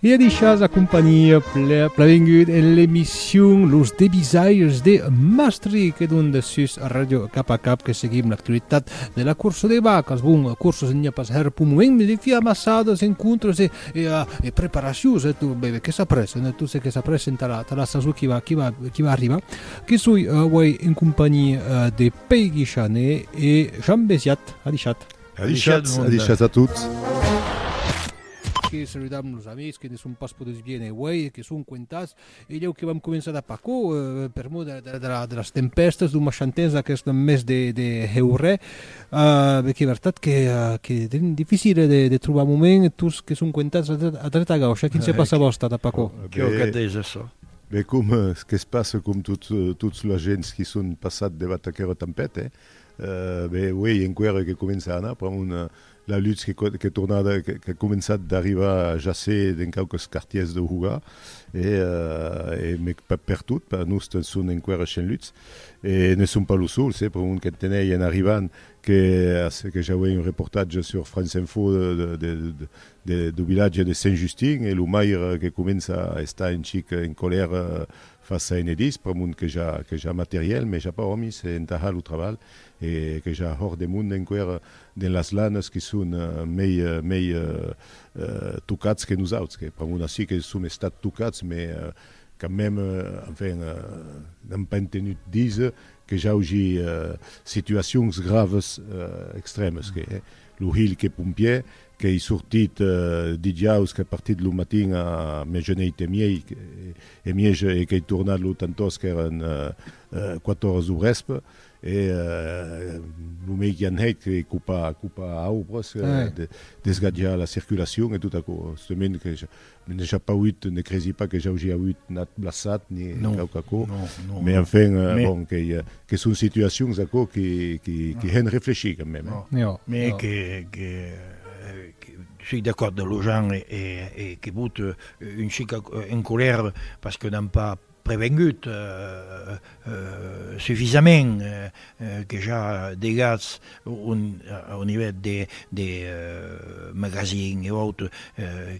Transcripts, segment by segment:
E a deixas a companhia plavengut en l'emission Los Debisairs de Mastri que don de sus Radio Cap a Cap que seguim l'actualitat de la cursa de vacas. Bon, cursos n'hi a pas her pour moment, mais les filles amassadas, encontres e, e, e preparacions, e tu, bebe, que s'apressen, e tu se que s'apressen ta la, ta la saison qui va, qui va, qui va arribar. Que soi, uh, en compagnie uh, de Peggy Chane e Jean Besiat. Adichat. Adichat, adichat a tots. Que saludam los amics que ne son pas poduts viene uèi e que son cuentats. E lhèu que vam començar d'a paco, per mot de las tempèstas, d'un machan temps d'aqueste mes de heurè, be qu'es vertat qu'es dificil de trobar moment, tots que son cuentats a dreta a gaucha. Quin se passa vòsta d'a paco? Qué òc at dés açò? Be com qu'es pas com tots las gents qui son passat devath aquera tempèth, eh? Be uei enquera que comença a anar pr'amont la lutz qu'es tornada, qu'a començat d'arrivar a jaser dens quauques quartiers deu Hugà, e mec pas pertot, per nos te'n son enquera cent lutz, e ne son pas los sols, eh? Pr'amont qu'en tenei en arribant, que ja uei un reportatge sur France Info deu vilatge de Sent Justin e lo maire que comença a estar un chic en colèra fa saint e dis per mond que ja que ja materiel mes ja pas òmis e entaha lo traval e que ja hòr de mond enqüèra dens las lanas que son mei mei tocats que nosauts que per mond ací que som estats tocats mes quand meme enfin n'am pas entenut díser que j'augi situacions graves extrèmes que lo hilh que pompièr Qu'ei sortit dijaus, qu'ei partit lo matin a miejaneit e miei, e mieg, e qu'ei tornat lo tantòs qu'èran quat oras dau vèsp, e lo mei qui anhèc ei copar aubres, desgatjar la circulacion e tot aquò. Stement que N'ai ja pas auut, ne cresi pas que j'augi auut nat blassat ni quauque aquò, mais enfin, bon, que son situacions aquò qui hèn reflechir quand même. Mais que soi d'acòrd de Lojan e que vòt un chic en colèra parce que n'an pas prevengut sufisament que ja degatz un nivel de magazin e autre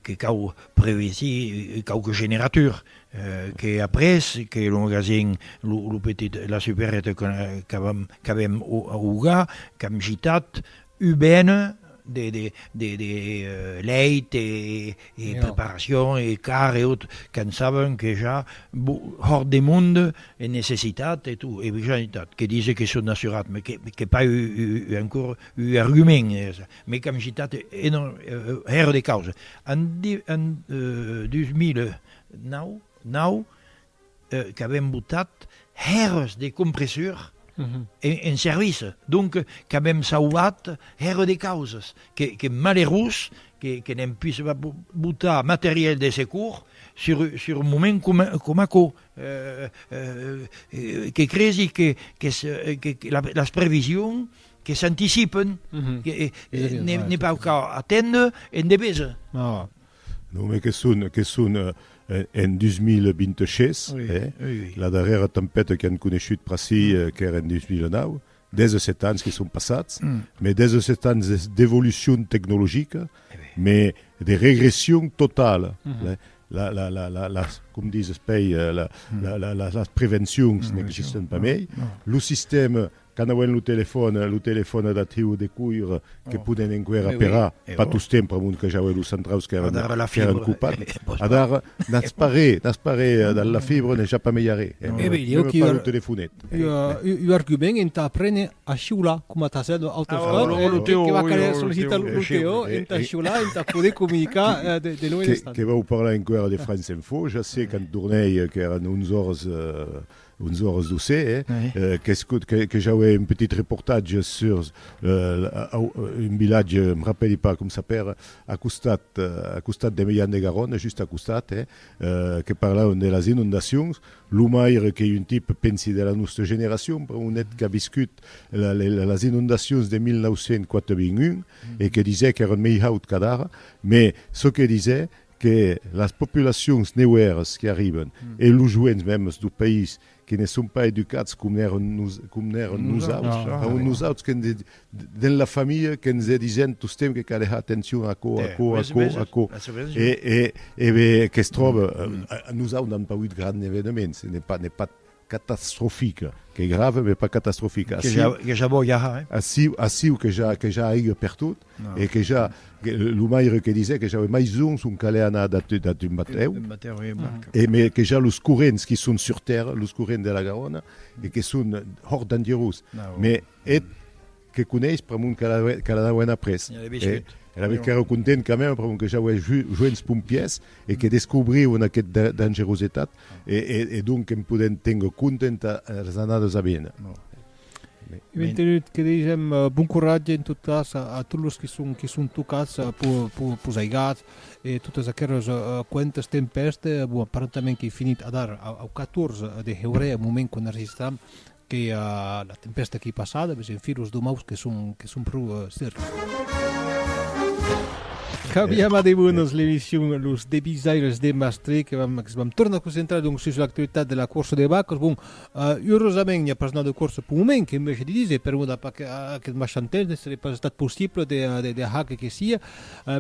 que cau prevesir quauque generatur que après que lo magazin lo petit la supérette qu'avèm augar qu'am gitat UBN, de de de de lèit e e preparacion e car e tot, quand saben que ja hòrt de monde e necessitat e tot, e ja en tot, que dise que son assurat, me que pas eu eu ancor eu argument, me qu'am gitat enorm hèr de causa, en 2009 nau qu'avèm botat hèrs de compressur en servici, donc qu'avèm sauvat hèrs de causas, que malerós que n'èm pus pas botar materiel de secur sur un moment coma aquò, que cresi qu'es las previsions que s'anticipen, que n'ai pas qu'a atendre endevesa. Non, me que son, que son en 2026, la darrèra tempèta qu'an coneishut pr'ací qu'èra en 2009, 17 ans que son passats, me 17 ans d'evolucion tecnologica, me de regression totala, las, com dizes, pei, las prevencions n'existen pas mei, lo sistèma Quand auem lo telefòn, lo telefòn adatiu de cuir que poden enqüèra aperar, pas tostemp pr'amont que j'auè los centraus qu'èran copats. Adara, n'as pas re, n'as pas re, dal la fibra n'es ja pas mei arrè, meme pas lo telefonèt. Ua argument entà aprene a shiular, coma t'as hèt l'autre còp, que va caler sollicitar lo Teo entà shiular, entà poder comunicar de loi l'estat. Que vau parlar enqüèra de France Info, ja se quand tornèi, qu'èran 11 ors, Onze oras do se, que j'auè un petit reportatge sur un vilatge, me rapèli pas com s'apèra, a costat, a costat de Meilhan de Garona, just a costat, que parlavan de las inondacions, lo maire qu'ei un tipe, pensi, de la nòsta generacion, per un hèt qu'a viscut las inondacions de 1981 e que disè qu'èran mei haut qu'adara, mès çò que disè que las populacions neuèras que arriben e los joents mèmes do país que ne son pas educats com n'èron com n'èron nosauts, èron nosauts que ne dens la familha que ne disen tostemps que cal hèr atencion a aquò, aquò, aquò, aquò e e e e que se tròba nosaut n'an pas auut grand evenements, ne pas ne pas Catastrofica, qu'es grave mès pas catastrofica. Que ja, que ja vò ja, hein? Aciu, aciu que ja, que ja aiga pertot, e que ja, lo maire que disè que ja aué mai zons ont calè anar dab de, dab d'un batèu, D'un batèu, e barca. e mès que ja los corrents qui son sur tèrra, los corrents de la Garona, e que son hòrt dangerós, mès eth, Que coneis pr'amont qu'elle a qu'elle a d'auer après. Elle avait chut. Elle avait qu'ère content quand même pr'amont que j'auer joents pompiers e que descobriuen aqueth dangerosetat e e donc en podent ténguer content as anades a vene. Eth mantenut que deishem bon coratge en tot cas a tot los qui son qui son tocats pos aigats e totes aqueres cuentes tempèstes bon aparentament qu'ei finit adar au 14 de heurèr au moment qu'enregistram Que la tempèsta qu'ei passada ves en fi los domaus que son que son pro serrats. Cambiam a de bonos l'emission Los Debisaires de Mastré que vam que vam tornar concentrar donc sus l'actualitat de la corsa de vacas. Bon, urosament n'i a pas nada de corsa pau moment que me je de diser per mot a pas que aquest machan temps ne serai pas estat possible de de de hac que sia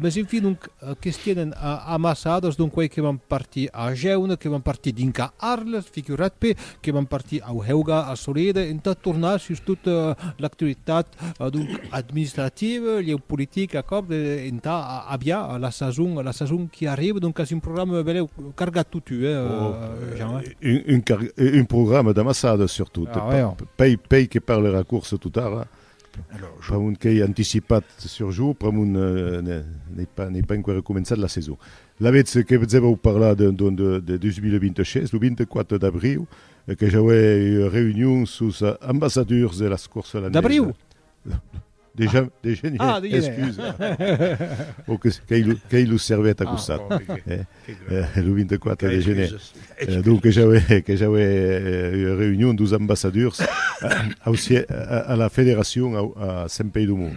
Mès en fin, donc, que's tienen amassadas, donc quei que van partir a Jeune, que van partir dinca Arles, figurat-pe, que van partir au Heuga, a Soleda, entà tornar sus tot l'actualitat, donc, administrativa, lheu politic, acòrd, entà aviar la sason, la sason qui arriva, donc qu'as un programa beleu cargat totu, eh, Jean, eh? Un, un car, un programa d'amassadas, surtot, pei, pei que parle era corsa totara, Alors, pr'amont qu'ei anticipat sur jo, pr'amont n'ei pas n'ei pas enqüèra començat la saison. Lavetz que vos avèu parlar de de de de 2026, lo 24 d'abriu que j'auè ua reünion sus ambassadors de las courses holandaises. D'abriu? De jan de genièr, excusa. Bon, qu'ei qu'ei lo servèt a costat. e lo 24 de gener donc que j'aué que j'aué ua reünion dos ambassadors ausier a la federacion au a Saint Pei do Mont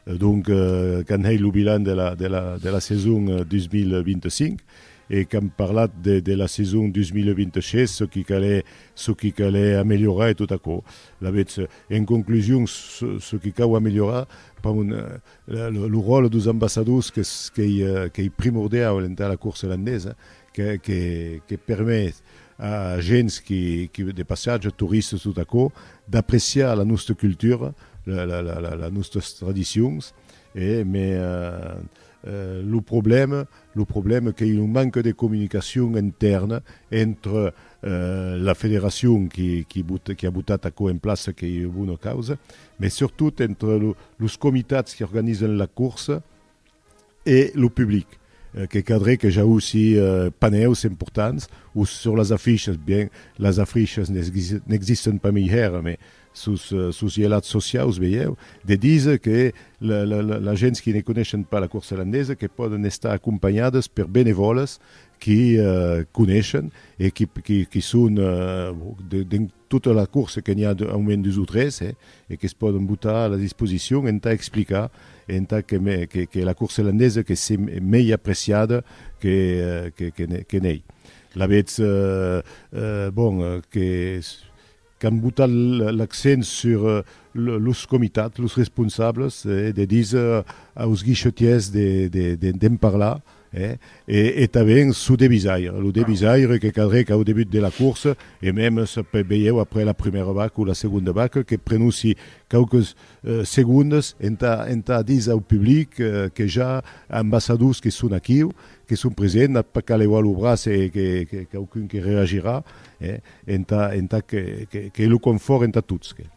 donc qu'an hèit lo bilan de la de la de la saison 2025 e qu'an parlat de de la saison 2026 çò qui calè çò qui calè ameliorar e tot aquò lavetz en conclusion çò qui cau ameliorar pas un Lo ròtle dos ambassadors qu'ei primordiau entà la corsa landesa, que permet a gents de passatge, toristas, tot aquò, d'apreciar la nòsta cultura, las nòstas tradicions, mai lo problèma qu'ei una manca de comunicacion intèrna entre la federacion qu'a botat aquò en plaça, qu'ei una bona causa, mai surtot entre los comitats que organizan la corsa e lo public, que cadré que jausi panèus importants o sus las afichas, bien las afichas n'existen pas mai hèra, mai sus sos ielats sociaus veieu de díser que las gents que ne coneishan pas la corsa landesa que pòdan estar acompanhadas per benevòlas qui coneishen e qui son dens tota la corsa que n'i a au mens dus o tres e que's pòden botar a la disposicion entà explicar e entà que la corsa landesa que se mei apreciada que n'ei. Lavetz bon que qu'an botat l'accent sur los comitats, los responsables, de díser aus guichetiers d'en parlar, e tanben çò de visaire, lo de visaire que cadrèc au debut de la coursa, e mèm veieu après la prumèra vaca o la segonda vaca, que prenussi quauques segondes entà díser au public que ja ambassadors que son aquiu, que son presents, n'at pas qu'à leuar lo braç e quauqu'un que reagirà. Entà, entà que, que, que lo confòrt entà tots, que.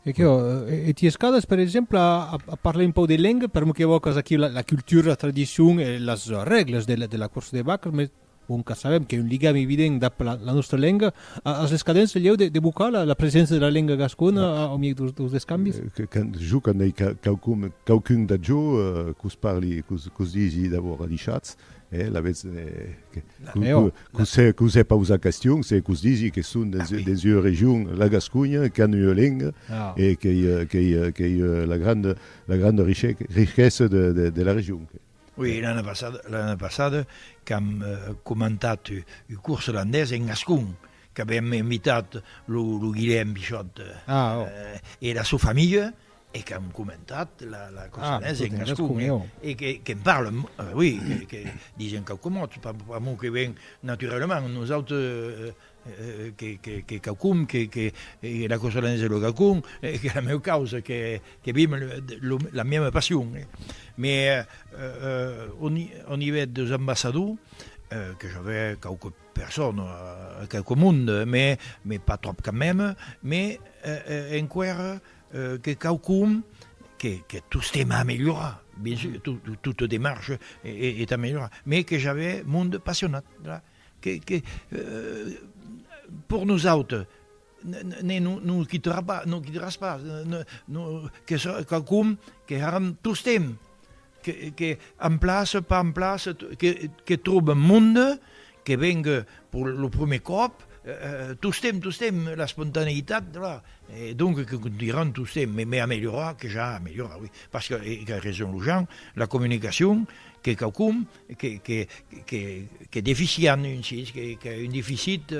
E que, e ti escadas, per exemple, a, a, a parlar un pauc de lenga, per que evòcas aquí la, la cultura, la tradicion e las règlas de la, de la corsa de vacas, mes bon que sabem que un ligam evident dab la, la nostra lenga, a, as escadents el lheu de, de bocar la, la presença de la lenga gascona a, au miei dos, dos descambis? Que, que, jo que n'ei quaucun, quaucun de jo, eh, qu'os parli, qu'os, qu'os digi d'abòrd a Dichatz, Eh, la vètz, que, que, que us hè pausat question, se qu'us disi que son dens, dens ua region, la Gasconha, qu'an ua lenga, e qu'ei, qu'ei, qu'ei la granda, la granda richessa de, de, de la region. Ui, l'ana passada, l'ana passada, qu'am comentat un curs olandés en gascon, qu'avèm invitat lo, lo Guilhèm Bichòt, e la sua familha, e qu'an comentat la la cosa ah, en gascon eh? e que qu'en parle euh, oui que, que disen quauque mot pas, pas mot que ven naturellement nous autres euh, euh, que, que, que quaucum que, que eh, la cosa de lo gacon eh, que la meu causa que, que vim lo, la même passion eh? mais euh, euh, au, au niveau des ambassadeurs euh, que j'avais quelques personnes, euh, quelques monde, mais, mais pas trop quand même, mais euh, euh, en quoi Que quauqu'un que que tostemps a amelhorar bien sûr tout toute démarche est ameliorar mais que j'avais monde passionat voilà que que pour nous autres ne nous quittera pas, nous quitteras pas, que quauqu'un que harem tostemps que emplace, pas emplace, que trobe un monde, que vengue per lo prumèr còp, tostemp, tostemp, l'espontaneitat, e donc que contunharàn tostemp, me mai amelhorar que ja amelhorar, oui, parce que, e qu'a raison lo Jean, la comunicacion qu'es quauqu'un qu'es deficient, un sic, qu'a un deficit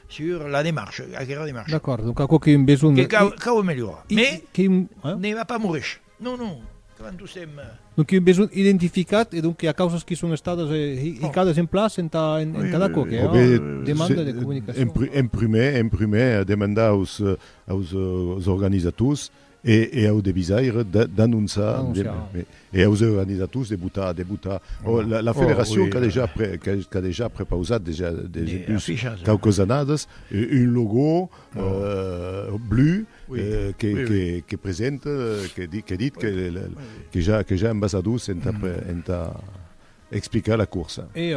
sur la demarche, aquera demarche. D'acòrd, donc quauqu'un besonh. Que cau amelhorar, mais ne va pas moresh. Non, non, quand dus èm. Donc un besonh identificat e donc que i a causas qui son estadas hicadas en plaç entà d'aquò que ua demanda de comunicacion. En prumèr, en prumèr, a demandar aus aus organizators e au devisaire d'anonçar e aus organizators de botar de botar la federacion qu'a dejà qu'a dejà prepausat dejà dejà quauques annadas un logò Blu que presenta que dit que ja ambasadors entà explicar la corsa. E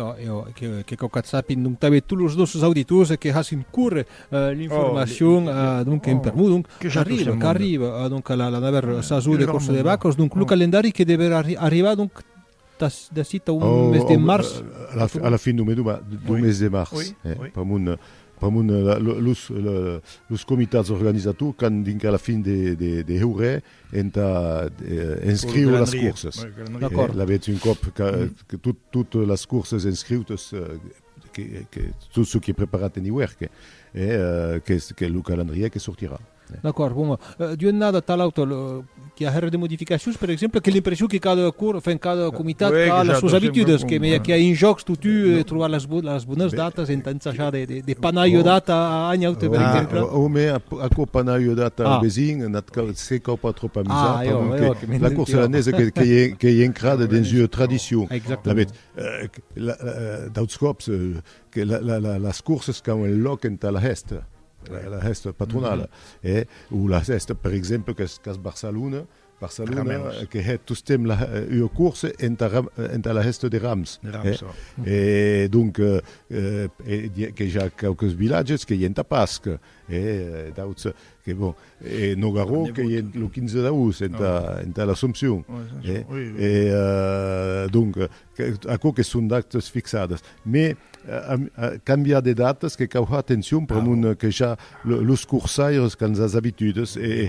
que quauqu'a sapin donc tanben tots los nòstres auditors que hassin córrer l'informacion donc en pr'amor donc qu'arriba donc la novèla sason de corsa de vacas donc lo calendari que deverà arribar donc d'ací tà un mes de març. A la fin d'un mes, d'un mes de març. Pr'amor, pr'amor los los comitats organizators qu'an dinc a la fin de heure entà inscriure las courses. L'avetz un còp que tot tot las courses inscriutes que tot çò qui est preparat en iuèrque que lo calendrièr que sortirà. D'acòrd, bon, d'ua annada tà l'auta qu'i a hèr de modificacions, per exemple, que l'impression que cada cor, enfin, cada comitat Oui, a las sòs exacte, abitudes, sempre que me com- qu'i a un jòcs totú eh, trobar las bo- las bonas Be- datas, entà ensajar de de de panar ua Oh. data a a un aute, per Ah, exemple. Ah, o me ap- aquò panar ua data Ah. au vesin, un at cau, se cau pas trop amusar, Ah, jo, pendent jo, que que me la cor dentió. selanesa que que i a que i a encrada Selanesa, dens ua oh. tradicion. La Exactament. bet, eh, que la eh, d'auts còps, eh, que la la la las corsas qu'an un lòc entà la hèsta. la hèsta patronala e o la hèsta per exemple qu'es qu'es Barcelona Barcelona que hè tostemp la ua course entà entà la hèsta de Rams e donc que ja quauques vilatges que i entà Pasc e d'auts que bon e Nogarò que i lo 15 d'aoust entà entà l'Assomption e donc Aquò que son d'actes fixades. Mes cambiar de datas que cau har atencion pr'amor de que ja los corsaires qu'an sas abitudes e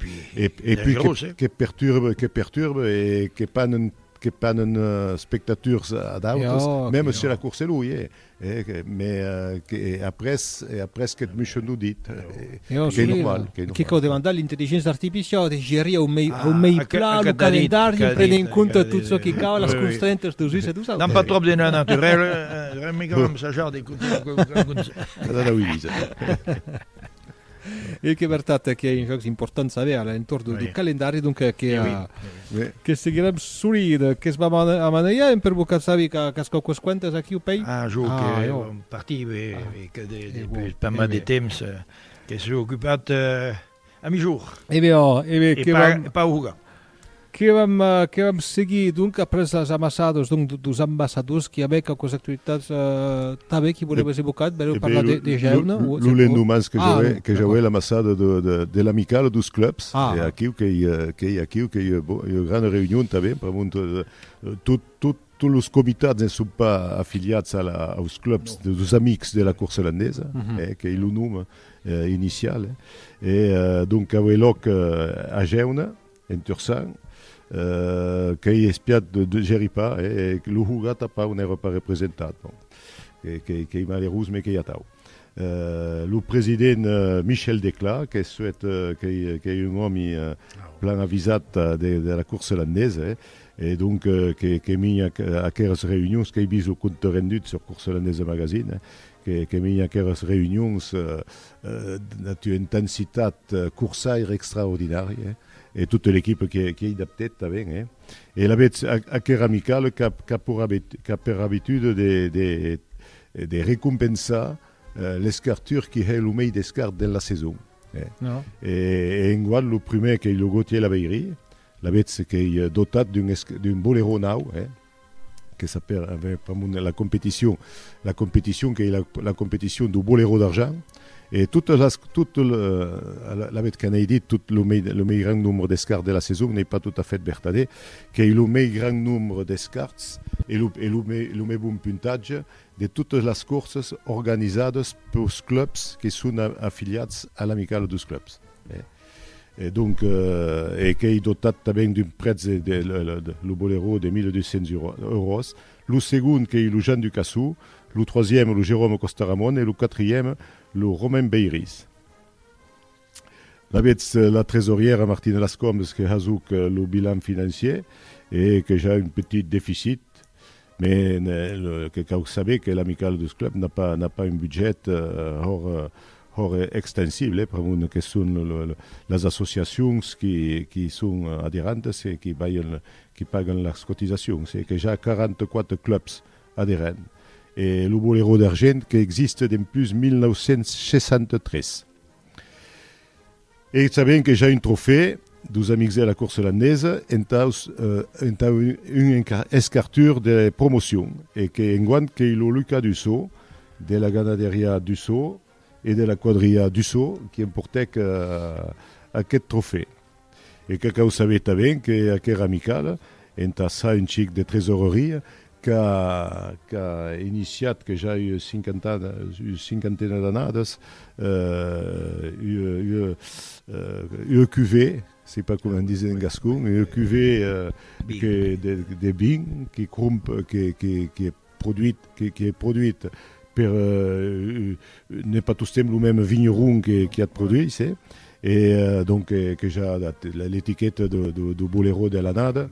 pui que perturbe que perturbe e que panen que panen spectators ad autres, meme se la corsa lo i é. E après qu'eth Michon o dit, qu'ei normal. Que cau demandar l'intelligença artificiau de gerir au mei plan lo calendari en prenent en compte tot çò que cau, las constrentas deus uns e deus autres. Damb pas tròp de nòu naturau, remegam amb sajar de cotar. E qu'es vertat que un jòc important saber a l'entorn du oui. calendari, donc eh, que, oui. oui. Eh, que seguirem solid, que es va a manejar en per boca sabi que qu'es quauques quantes aquí au pays. Ah, jo ah, que jo. en parti, oui, ah. oui, que de, de, de, pas mal de temps eh, que s'est ocupat eh, a mi jour. Eh bien, oh, eh bien, e que pas, va... pas Que vam, que vam seguir, donc, après les ambassades, donc, dos ambassadors qui avaient quelques actualitats, euh, tanben qui voleves evocar, voleu parlar de, de jeune? Lo, lo, lo lendemans que j'auè, ah, que j'auè l'ambassade de, de, de l'amicale dos clubs, ah. e aquiu qu'ei, qu'ei aquiu qu'ei, bon, ua grana reünion tanben, pr'amont de, tot, tot, Tots los comitats ne son pas afiliats als clubs dels Amics de la Corsa Landesa, qu'ei lo nom inicial. E donc aué lòc a Gèuna, en Tursan, qu'ei espiat de Jerry Parr, e lo Huga tanpauc n'èra pas representat. Bon, qu'ei malerós, mes qu'ei atau. Lo president Michel Declà, qu'es suet, qu'ei un òmi plan avisat de la Corsa Landesa, E donc, que minha aqueras reunions, qu'ei vist lo compte rendut sur Course Holandaise Magazine, que minha aqueras reunions ena tua intensitat corsaire extraordinària, e tota l'equipa qui ei dab tèt tanben, e alavetz aquera amicale qu'a per abitude de recompensar l'escartur qui hè lo mei descart dens la saison. E enguan lo prumèr qu'ei lo Gautier Labeyrie, L'avètz qu'ei dotat d'un boleró nau, eh? Que ça per aver pr'amont la competition, la competition qu'ei la competition dau boleró d'argent, e totes las, tot lo, l'avètz que n'ei dit, tot lo mei, lo mei grand nombre d'escarts de la saison, n'ei pas tot a fait vertadèr, qu'ei lo mei grand nombre d'escarts e lo, e lo mei, lo mei bon puntatge de totes las corsas organizades peus clubs que son afiliats a l'Amicale deus clubs, eh? E donc, e qu'ei dotat tanben d'un prètz, lo boleró, de 1.200 euros, lo segond qu'ei lo Jan Ducassou, lo troisième lo Jérôme Costaramon e lo quatrième lo Romain Beiris. Lavetz la tresorièra Martina Lascombes que hasuc lo bilan financier e que ja un petit deficit. Mès lo que cau saber que l'Amicale dus Clubs n'a pas n'a pas un budget hòr hòr extensible pr'amont que son las associacions qui qui son aderantes e qui balhen qui pagan las cotisacions e que ja 44 clubs aderent e lo Boleró d'Argent qu'existe dempús 1963. E sabent que ja un trofè, dus amics e la corsa olandesa, entaus entà un escartur de promocion, e que enguant qu'ei lo Luca Dusau, de la ganaderiá Dusau e de la quadriá Dusau, qui emportèc aqueth trofè. E qu'a cau saber tanben que aquera amicala, entà ça un chic de tresoreria, qu'a qu'a iniciat, que ja ua cinquantana, ua cinquantena d'annadas, ua ua ua cuvée, sei pas comment disen en gascon, ua cuvée que de de vin que cromp que que que produit que que produit per N'es pas tostemp lo mème vinheron qui at produís, e donc que ja dat l'etiqueta dau boleró de l'annada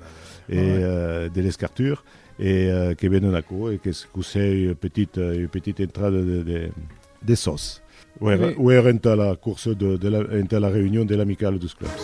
e de l'escartur, e que venen aquò e qu'es cossèi ua petita entrada de sòs. Ò èra entà la corsa, entà la reünion de l'Amicala deus Clubs.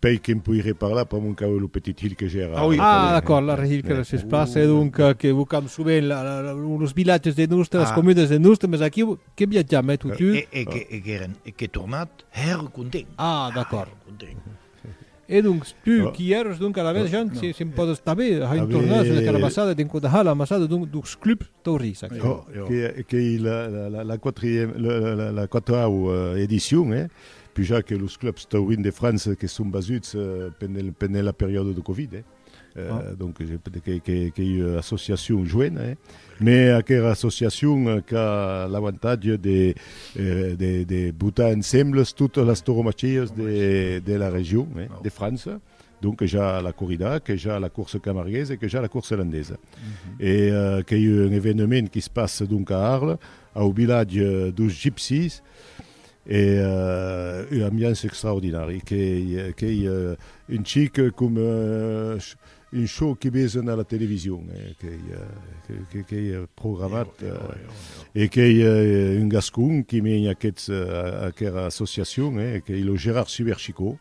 Pei que en poiré parlar, pas mon cau e lo petit hilh que j'ai ara. Ah, d'acòrd, la rehilh que laisses pas, e donc que vocam sovent los vilatges de Nustre, las comunes de Nustre, mes aquiu que viatjam, eh, tu, tu? E qu'è tornat, hèr content. Ah, d'acòrd. E donc, tu, qui èros donc a la vez, Jean, si em pòs estabir, a un tornar sus la carabassada de Codaha, l'ambassada donc dux club taurís, aquí. Qu'ei la quatau edicion, eh? Puja que los clubs taurins de França que son basuts pendent la periòda de Covid, donc qu'ei ua associacion joena, mais aquera associacion qu'a l'avantatge de botar ensembles totes las tauromachias de la region de França, Donc que ja la corrida, que ja la course camarguesa e que ja la course landesa. E qu'ei un evenement qui se passe donc a Arles, au vilatge dos Gypsies, e ua ambiance extraordinari. Qu'ei un chic com un show que vesen a la television, qu'ei programat. E qu'ei un gascon qui mène aquera associacion, qu'ei lo Gérard Suberchicot.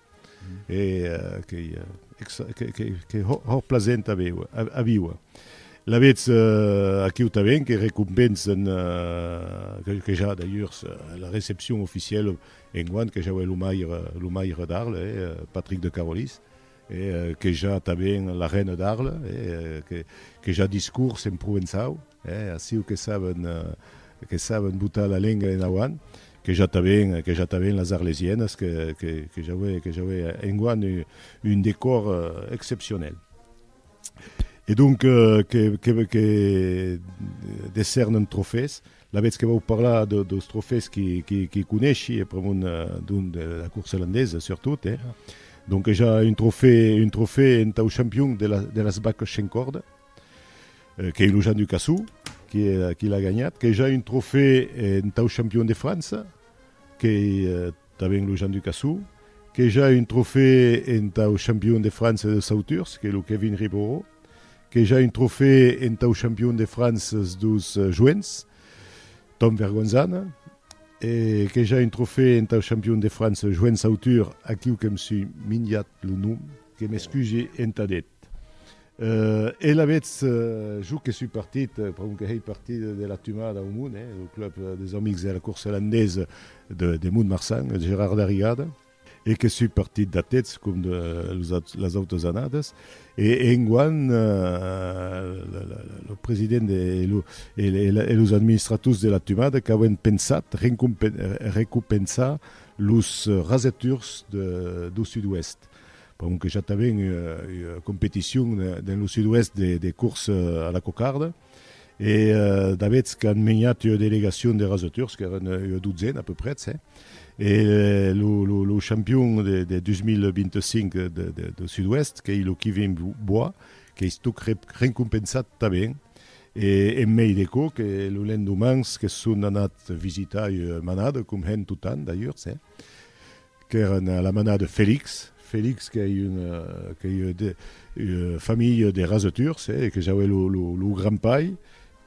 e qu'ei hòr plasent a víuer. Lavetz aquiu tanben que recompensen que ja d'ailleurs la recepcion oficièla enguan que ja uèi lo maire lo maire d'Arles Patric de Carolis e que ja tanben la reina d'Arles que ja discors en provençau. Eh, aciu que saben, que saben botar la lenga en auant, que ja t'aven, que ja t'aven las arlesienas, que, que, que ja aué, que ja aué enguan un, un decor excepcionel. E donc, que, que, que decèrnen trofés, la vetz que vau parlar de, deus trofés qui, qui, qui coneshi, e pr'amont d'un, de la course landesa surtot, eh. Donc, que ja un trofé, un trofé entau champion de la, de las bac shencorda. Qu'ei lo Jean Ducassou qui l'a ganhat, qu'ei ja un trofè entau champion de França, qu'ei tanben lo Jean Ducassou, qu'ei ja un trofè entau champion de França deus sauturs, qu'ei lo Kevin Riboró, qu'ei ja un trofè entau champion de França deus joents, Tom Vergonzana, e qu'ei ja un trofè entau champion de França joent sautur, aquiu que'm sui minjat lo nom, que m'excusi entad eth. E lavetz, jo que sui partit, pron que hèi partit de la tumada au Mont, eh, lo club des amics de la corsa landesa de, de Mont-Marsan, eth Gerard Darrigada, e que sui partit d'atetz, com de los aut, las autas annadas, e enguan, lo president e lo, e le, e los administrators de la tumada qu'auem pensat rencompe, recompensar los raseturs de, dau sud-oèst. Pendent que ja t'avèn ua competicion dens lo sud-oèst de cors a la cocarda, e dabètz qu'an menhat ua delegacion de rasotors, qu'èran ua dotzena a peu prètz, e lo champion de 2025 deu sud-oèst, qu'ei lo Kevin Bois, qu'eis tòc recompensat tanben, e en mei de çò que lo lendomans que son anat visitar ua manada, com hèn totanh d'ailleurs, qu'èran a la manada de Felix, Felix qu'ei una qu'ei de familha de rasoturs e que j'aué lo lo lo grand-pair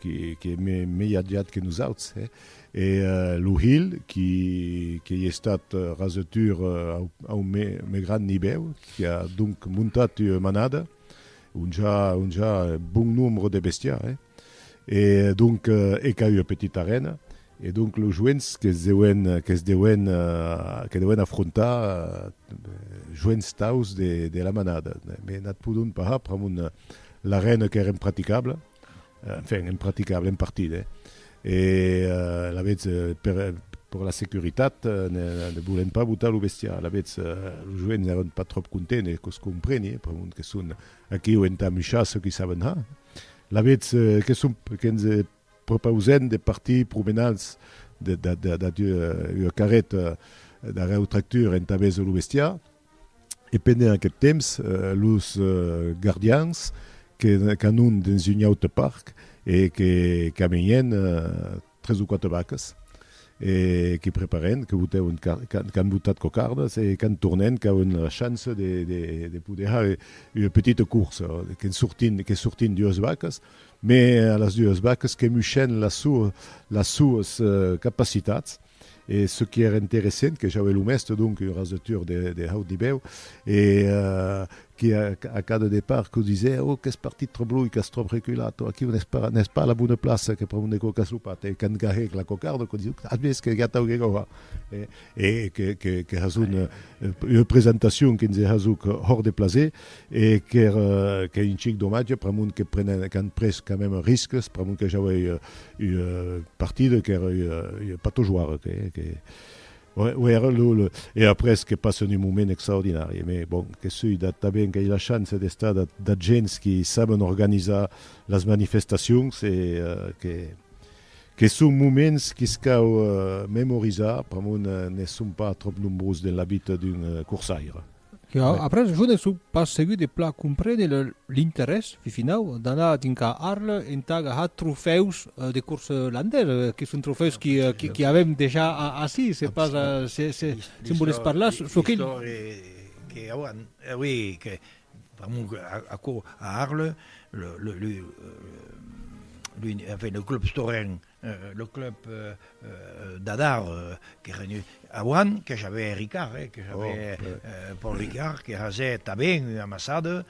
qui qui me mei agiat que nosauts e e lo hilh qui qu'ei estat rasotur au au me me grand nibèu qui a donc montat ua manada onja onja bon nombre de bestiar eh. E donc e qu'a ua petita arena, e donc los joents que's deuen, que's deuen, que deuen afrontar joents taus de de la manada. Me n'ath podon parlar pr'amont l'arena qu'ère impraticable, enfin impraticable, en partida, e alavetz per per la securitat ne ne volien pas botar lo bestiar. Alavetz los joents n'èran pas tròp contents, e que's compreni, pr'amont que son aquiu entà muchar çò qui saben har. Lavetz que son que ens propausèm de partir promenats dab ua carreta dab eu tractur entà vèser lo bestiar, e pendent aqueth temps los gardians qu'anon dens un aute parc e que caminhen tres o quatre vacas e que preparèn, que botèuen, qu'an botat cocardas e qu'an tornèn, qu'auen la chance de de poder hèr ua petita corsa, qu'en sortin, que sortin duas vacas, mès a las duas vacas que mushèn las suas capacitats, E ce qui ère interessent, que j'aué lo mèste donc un rasetur de haut nivèu, e que a cada depart que disè, Oh, qu'ès partit tròp luènh, qu'ès tròp reculat, o aquiu n'ès pas, n'ès pas a la bona plaça, que pr'amor ne còcas lo pat, e quand gahèc la cocarda, que disè, As vist que ja t'auc hè gòhar? E que has una presentacion que nse hasuc hòrt de plaser, E qu'ère un chic domatge, pr'amont que prenen, qu'an pres quand même risques, pr'amont que jau ei ua partida qu'ère ua patojoire, que, que, ouais, ouais, ère lo, lo, e après que passen un moment extraordinari. Mes bon, que soi dat, tanben qu'ei la chance d'estar dat, dat gents qui saben organizar las manifestacions e que, que son moments que's cau memorizar, pr'amont ne son pas trop nombrós den la vita d'un corsaire. Ja, après jo ne sò pas segur de plan comprene l'interès finau d'anar dincar Arles entà agajar trofèus de corsa landesa, que son trofèus qui avèm dejà ací, se pas se me volètz parlar çò que... que auan, oui, que pr'amor aquò a Arles, le club Storenc Lo club d'Adar que renut auan que j'avè Ricard eh que j'avè Paul Ricard que hazè tabèn ua amassada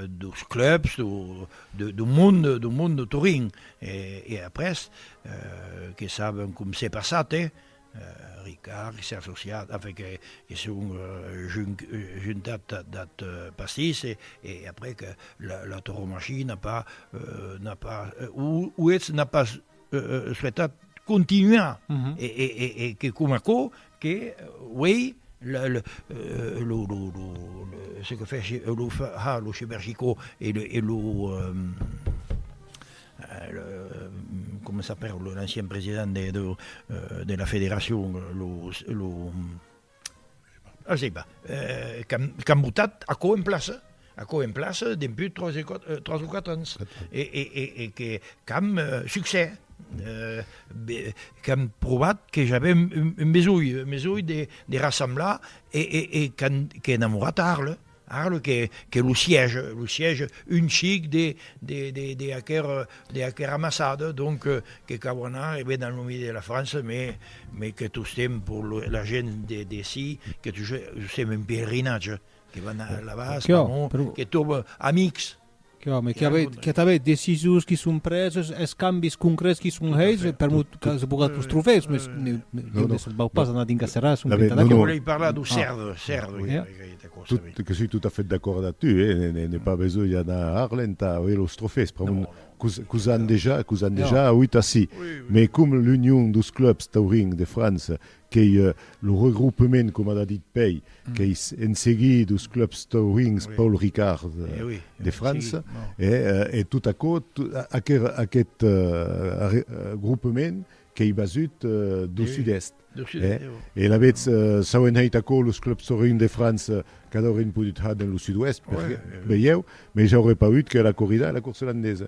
dos clubs do monde do monde Torin e après que saben com s'è passat eh Ricard s'es associat avèc es son juntat d'ath pastís e aprèc la torromachie n'a pas, n'a pas, o eth n'a pas suetat continuar e que coma aquò que uei lo ce que fèc lo ha lo chebergicò e lo comment s'appelle l'ancien president de de de la federacion lo lo ah je sais pas euh qu'an qu'an botat aquò en plaça aquò en plaça demput 3 e 4 3 o 4 ans e e e e que qu'an succès euh be qu'an provat que j'avem un un besonh un besonh de de rassemblar e e e qu'an qu'an enamorat a Arles Ara lo que que lo siège, lo siège un chic de de de de aquer de aquer amassada, donc que cau anar e ben dans lo milieu de la France, mais mais que tostemps pour lo la gent de d'ací que tostemps un pèlerinatge, que van là-bas, que tròbe amics. Qu'òme, qu'a avèt, qu'a avèt decisions qui son preses, escambis concrets qui son hèits, per mot que se pogat los trofèus, mas ne, ne, Lo- lo- ne se vau pas anar dins la serrassa, un La ve- pinta no, d'aquò. no. Volei parlar do CERD, CERD, oui, Eh? avec aquesta cosa, oui. Tot, que soi tot a fait d'acòrd a tu, eh, ne- ne- n'ai pas besonh anar a Arles entà auer los trofèus, pr'amor Non, non. qu'us, qu'us an dejà, qu'us an dejà auut ací. Oui, oui, Mais oui. com l'Union dos clubs taurins de França, qu'ei lo regroupement, coma d'a dit Pei, qu'ei en seguir dos clubs taurinhs Paul Ricard de França, e tot aquò, aquest regroupement qu'ei basut dau sud-èst. E alavetz, s'au enheit aquò los clubs taurinhs de França, cada aurin podut har dens lo sud-oèst, perqué, veieu, mei j'auré paüt que la corrida e la corsa landesa.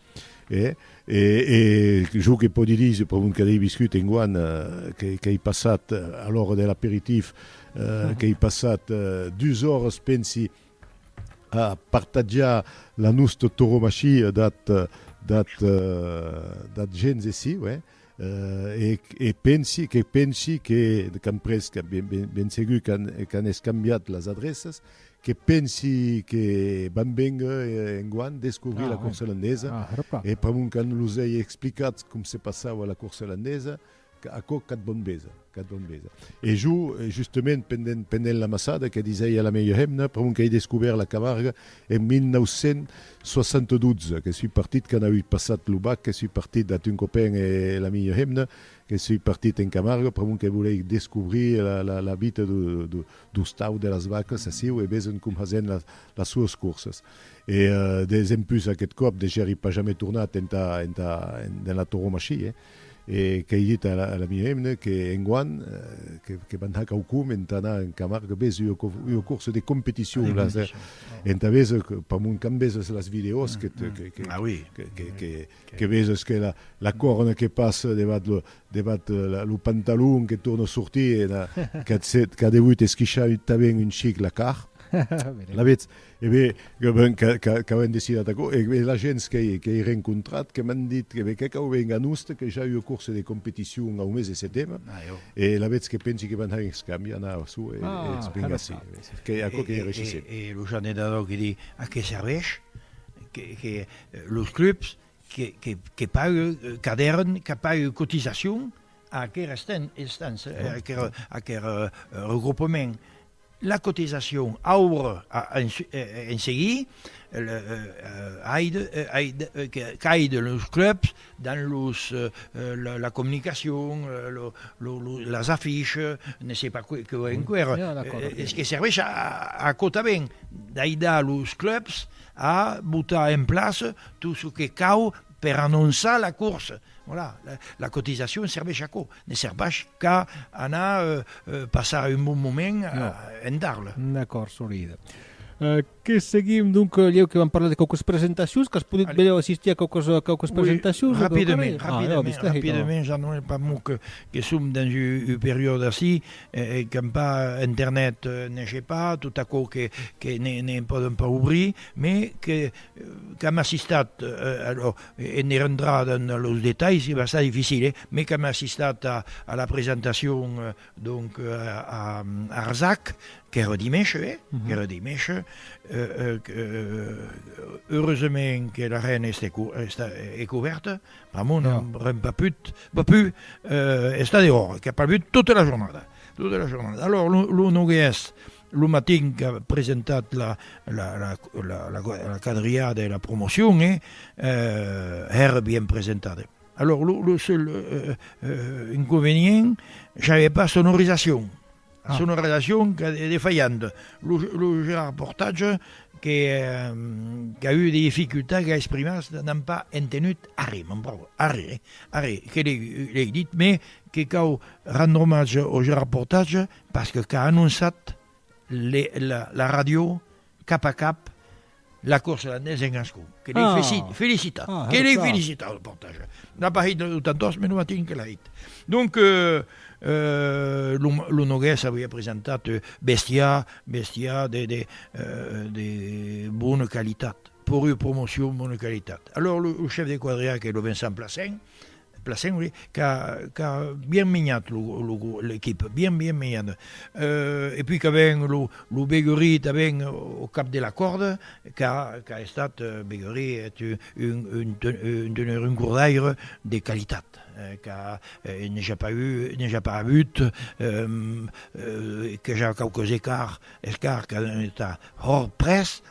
Eh? E, e jo que pòdi dir, se pr'amont que l'ei viscut enguan, que, qu'ei passat, a l'ora de l'aperitif, qu'ei passat dus oras, pensi, a partatjar la nosta toromachia dat, dat, dat gents ací, uèi. E pensi, que pensi que, qu'an pres, que ben, ben, ben segur qu'an, qu'an escambiat las adreças, que pensi que vam vénguer enguan descobrir la corsa landesa, e pr'amont qu'an los ei explicats com se passava la corsa landesa, aquò qu'ath bon besa. Cadun besa. E jo, justament, pendent, pendent l'amassada que disèia la mèia hemna, pr'amont qu'èi descubèrt la Camarga en 1972, que sui partit quand auí passat lo bac, que sui partit ath un copain e la mèia hemna, que sui partit en Camarga, pr'amont que volèi descubrir la, la, la vita do, do, do stau de las vacas aciu e veson com hasen las, las suas corsas. E, dempús aqueth còp, de gèri pas jamai tornat entà, entà, dens la tauromachié. E qu'ei dit a l'amic Emne que enguan que van har quaucun entà anar en Camargue, ves ua corsa de competicion laser, entà véser per mon quand véses las vidèos que véses que la corna que passa devath lo pantalon que torna sortir, qu'a devut esquichar tanben un chic la car, la vetz? E be, que ben qu'auem decidat aquò, e be, la gents qu'ei rencontrat, que m'an dit, que be, que cau ben a noste, que ja ei ua corse de competicion au mes de setembre, e alavetz que pensi que van hèr un escambi anar a sò, e eth ben ací, qu'ei aquò que reishissem. E lo Jean de Nadau que di, a qué serveish que los clubs que paguen cadèrn, que paguen cotisacion a aquera instància, a aquer regroupement? La cotisacion aurà en seguir qu'aide los clubs dins los la comunicacion, las afiches, ne sais pas qué enqüèra, es que serveish aquò tanben, d'aidar los clubs a botar en plaça tot çò que cau per anonçar la corsa, voilà, la cotisacion serveish a aquò. Ne ser pas qu'a anar passar un bon moment en d'Arles. D'acòrd, solide. Que seguim, donc, lhèu que vam parlar de quauques presentacions, qu'as podut benlèu assistir a quauques presentacions? Oui, rapidament, rapidament, rapidament, Jean-Noël, pas mot que som dens un periòde ací qu'an pas internet, ne hé pas, tot aquò que ne pòdon pas obrir, mais qu'am assistat, alors, E ne rentrar dans los detalhs es bastant dificil, eh? Mès qu'am assistat a la presentacion, donc, a Arzac, qu'ère dimèsh, eh? Qu'ère dimèsh, qu'eureusement que la Reine est couverte, pr'amor n'aurem pas put, pas pu, estar dehors, qu'a pleuvut tota la jornada, tota la jornada. Alòs, lo noguèrs, Lo matin qu'a presentat la quadrilhada e la promocion, e hèra bien presentada. Alòr, lo seul inconvenient, j'avè pas sonorizacion. La sonorizacion qu'a de defaianta. Lo Gérard Portage qu'a eu de dificultats, qu'a exprimats n'an pas entenut arren, mon brave, arren, arren, que l'ei dit, mès que cau rendre omatge au Gérard Portage Pas que qu'a anonçat la ràdio cap a cap la corsa de nés en ascó, que l'ei felicitat, que l'ei felicitat lo portage. N'a pas hit lo tantors, me lo matin que l'a hit. Donc lo Nogués avia presentat bestiar, bestiar de bona qualitat, pòrri promocion bona qualitat. Alòrs lo chef de quadriaga, qu'ei lo Vincent Placent, Plassenc qu'a bien minhat l'equipe, bien bien minhat, e puis qu'a ben lo Beguerie tà ben au cap de la corde, qu'a estat, Beguerie est un teneur, un gourdaire de qualitat, qu'a n'ai ja pas eu, n'ai ja pas avut, qu'a ja quauques escarts, escarts qu'a estat hors près,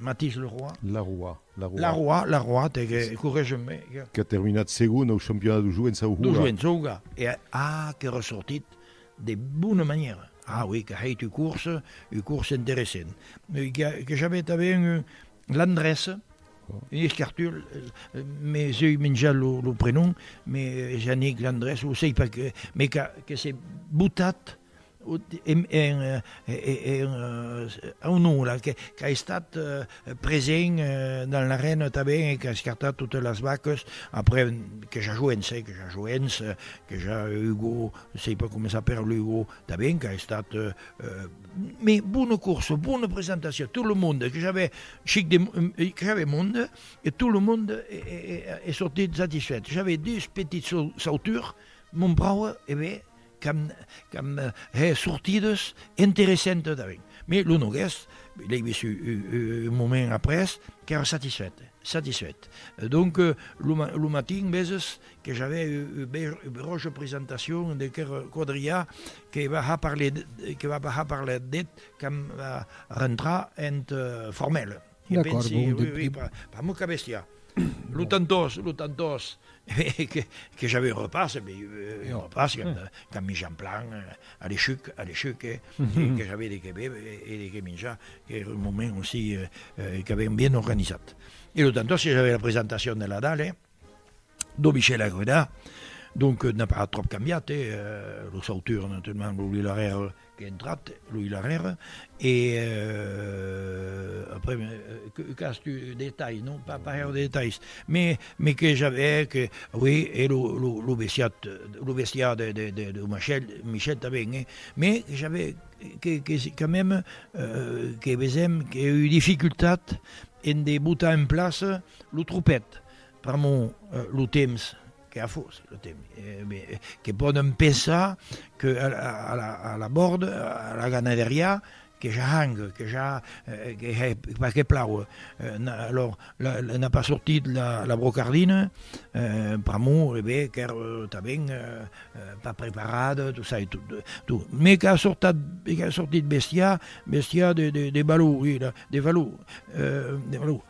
Matís Leroy. Leroy, Leroy. Leroy, Leroy, t'es que corrège-me. Qu'a terminat segon au championnat de joents au Houga. De joents au Houga. E a que ressortit de bona manièra. A oui, qu'a hèit ua course, ua course interessent. Que j'avè tanben l'Andrés, un escartut, me seu menjat lo prenom, me Jannik l'Andrés, lo sei pas, me que s'est botat onora qu'a estat present dans l'arèna tanben e qu'a escartat totes las vaques après que ja joens que ja joens que ja Hugo sei pas començar per l'Hugo tanben qu'a estat me bona corsa bona presentacion tot lo monde que j'avais chic de que j'avais monde e tot lo monde e sortit satisfèt j'avais dus petits sautures mon brau e bé qu'an hè sortidas interessentas tanben. Mès lo Noguès, l'ai vist un moment après, qu'èra satisfèt, satisfèt. Donc, lo matin veses que j'avè ua beròja presentacion de Quer Quadrià que va ja parler, que va pas ja parler d'eth qu'an va rentrar eth formèl. D'acòrd, bon, de... Pas mon cas bèstia. Lo tantòs, lo tantòs, que j'avais un repas, un repas qu'en minjant plan, a l'eshuc, a l'eshuc, que j'avais de qué béber e de qué minjar, qu'èra un moment aussi qu'avèm bien organizat. E lo tantòs que j'avais la presentacion de la dalle, Do Michel Aguedà, donc n'a pas tròp cambiat, e los auteurs naturalament lo Louis Larère qu'es entrat, Louis Larère, e après que qu'as tu de detalhs, non pas pas gaire de detalhs, mais mais que j'avais que oui e lo lo lo bestiat lo bestiar de de de de Michel Michel tanben e mais j'avais que que se quand même que vesèm qu'ei eu dificultat en de botar en plaça Lo tropèt, pr'amor lo temps que a fos, lo temps que pòdon pensar que a la bòrd, a la ganaderiá, que ja hang, que ja pas que plau, alòr n'a pas sortit la brocardina, pr'amor qu'èr tanben pas preparat, tot ça e tot, me qu'a sortit bestiá, bestiá de valor, de valor.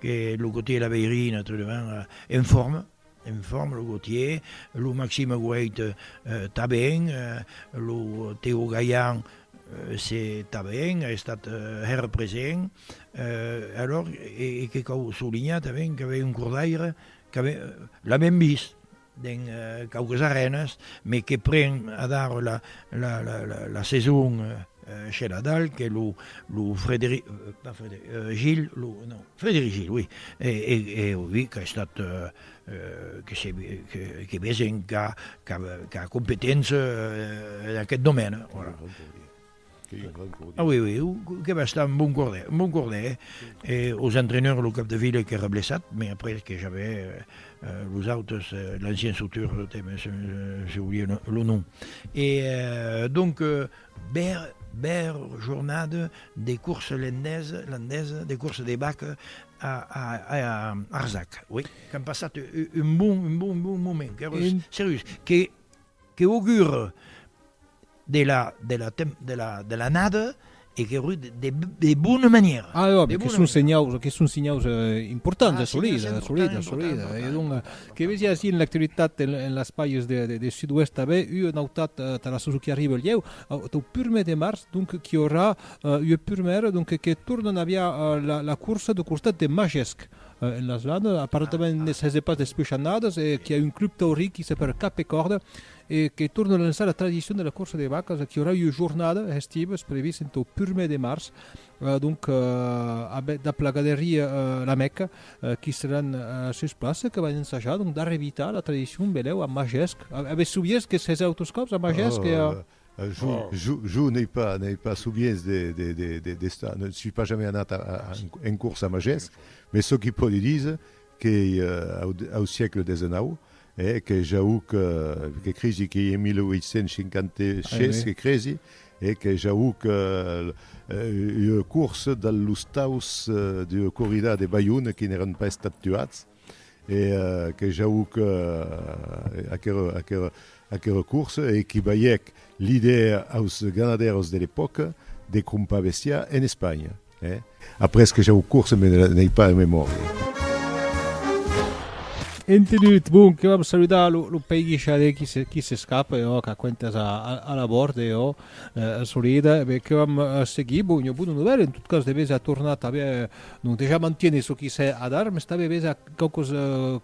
que lo Gautier e la Veirina, tot devant, euh, en forme, en forme, lo Gautier, lo Maxime Goeit, euh, ta ben, euh, lo Théo Gaillan, euh, se ta ben, a estat euh, hèr present, euh, alors, e, e que cau solinhar tanben qu'avè un cordaire qu'avè, l'avèm vist, dens quauques arènas, me que pren adar la saison sheladal que lo Frederic Gil, e oui qu'a estat que vesen qu'a competéncia en aqueth domène. A ui, ui, que bèsta, un bon cordèr, un bon cordèr, e os entreneurs, lo cap de fila qu'èra blessat, mai après que j'avè los autes, l'ancien sauteur, j'ai oublié lo nom, e donc bèr, bèr jornada de course landesa, landesa, de course de bac a Arzac, ui, qu'an passat un bon, un bon, un bon moment, qu'èra serius, que. Que augure de la de la de la de l'annada e que augure de de de bona manièra. Ah jo, que son senhaus, que son senhaus importants, assolits, assolits, assolits. E donc, que vesi ací en l'actualitat en las pages de de de Sud-Ouest tanben ua nautat tara çò qui arriba lhèu, tau prumèr de març, donc qu'i aurà ua prumèra donc que tornan aviá la la corsa dau costat de Majesc, en las landas, aparentament ne sese pas despushanadas, e qu'i a un club taurí qui se per cap e còrda e que torna lançar la tradicion de la corsa de vacas, qu'i aurà ua jornada hestiva, es previst entau purmèr de març, donc abet dab la galeria La Mecca, qui seràn sus plaça, que van ensajar donc d'arrevitar la tradicion, velèu, a Magesc, avètz subiés que sese autos còps a Magesc e a. Jo n'ai pas souviens d'estar, ne soi pas jamais anat en cors a Magés, mès çò qui pòdi díser qu'ei au siecle desenau, que jauc, que cresi qu'ei en 1856 que cresi, e que jauc ua corsa dal los taus d'ua corrida de Balhona qui n'èran pas estat tuats, e que jauc aquera corsa e que balhèc l'idèa aus ganadèros de l'epòca de crompar bestiar en Espanha. Après que jauc corsa me n'ei pas en memòria. Entenut, bon, que vam saludar lo pei guixadè qui s'escapa e òc, aquentas a la bòrd e ò, solida, e ben, que vam seguir, bon, ua bona novèla, en tot cas, de bèth a tornar tanben Donc dejà mantiene çò qui sè ad armes, tanben ves a quauquos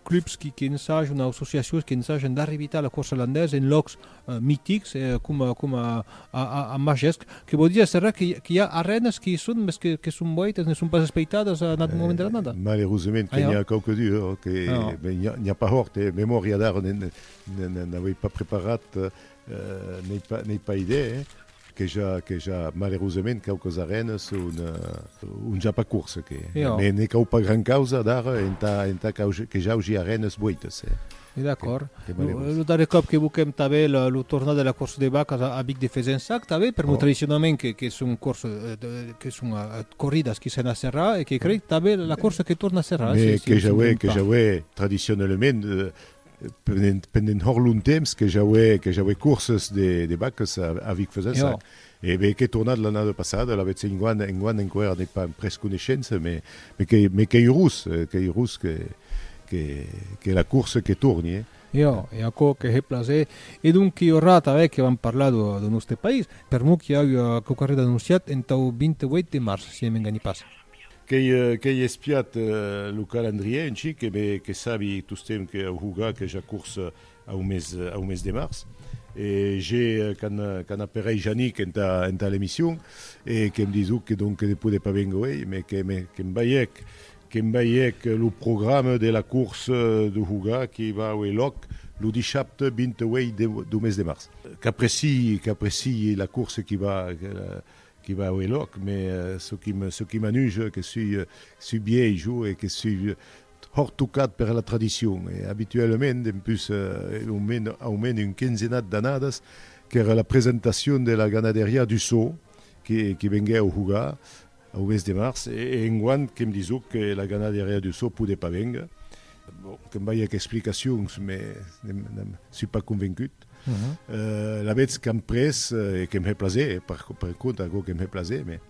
clubs qui qui ensajan o associacions qui ensajan d'arrevitar la corsa landesa en lòcs mitics coma coma a a a Majesc, que vò dire serrà que qu'i a arrenas qui i son mès que que son boitas ne son pas espeitadas a un aut moment de l'annada. Malerosament que n'i a quauque du que ben n'i a n'i a pas hòrt e memòria d'ara ne ne ne n'avei pas preparat N'ai pas idèa, eh? Que ja, que ja, malerosament, quauques arènes son un ja pas courses, que, mais ne cau pas gran causa dar entà, entà que j'augi arènes boites, eh? E d'acòrd. Lo darrer còp que boquèm tanben lo tornar de la corsa de vacas a Vic de Fezensac, tanben, per mos tradicionament que, que son corses, que son corridas qui sèn a Serra e que crei tanben la corsa que torna a Serra, eh? Mais que ja aué, que ja aué tradicionalament, pendent hòr lontemps que j'auè corses de vaques a Vic-Fesensac, e be qu'è tornat l'annada passada, la vètz enguan, enguan enqüèra n'ai pas pres coneishença, me qu'ei rus, qu'ei rus que la corsa que torni, eh! Jo, e aquò que hè plaser, e donc ua rata hè que vam parlar dau nòste país, per mò qu'i auia quauquarren anonciat entau 28 de març, si hè m'enganhi pas. Qu'ei espiat lo calendrièr en chic e que sabi tostemp que au jogar aqueja corsa au mes de març. E je quand aperei Janik entà l'emission e que'm disec que donc que ne podè pas vénguer uei, mes que'm baièc, que'm baièc lo programe de la corsa d'au jogar qui va auer lòc lo dishapte 28 dau mes de març. Qu'apreciï la corsa qui va Que va ue lòc, me çò qui me çò qui m'anuje que sui sui biei jo e que sui hòrt tocat per la tradicion e abituèlament dempús au men au men un quinzenat d'annadas qu'èra la presentacion de la ganaderiá du Sò que que venguèu jugar au mes de març e e enguant que'm disó que la ganaderiá du Sò podé pas véngre bon que'm balhèc explicacions me n'èm n'èm sui pas convencut. Uh mhm. -huh. euh, la vez qu'am pres eh, e qu'em he plaser, eh, per, per compte, algo qu'em he plaser, mais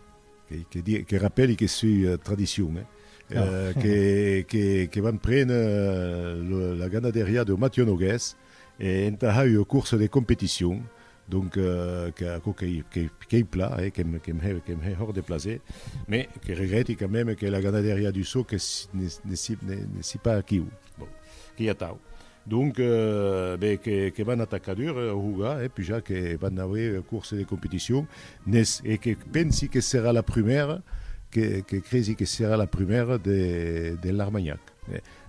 que, que, di, que rappeli que sui uh, tradicion, eh. Ah. Euh, que, que, que vam prendre uh, la ganaderia de Mathieu Noguès e entà ha eu course de competition, donc euh, que, que, que, que, que hi pla, eh, que, que, he, que he hors de plaser, mais que regrette quand même que la ganaderia du saut que ne, ne, ne, ne si pas aquí. Bon, que hi ha tau. Donc, ben, que van atacar dur a Ruga, eh, pujar que van auer ua course de competicion, n'es, e que pensi que serà la prumèra, que, que cresi que serà la prumèra de, de l'Armanhac.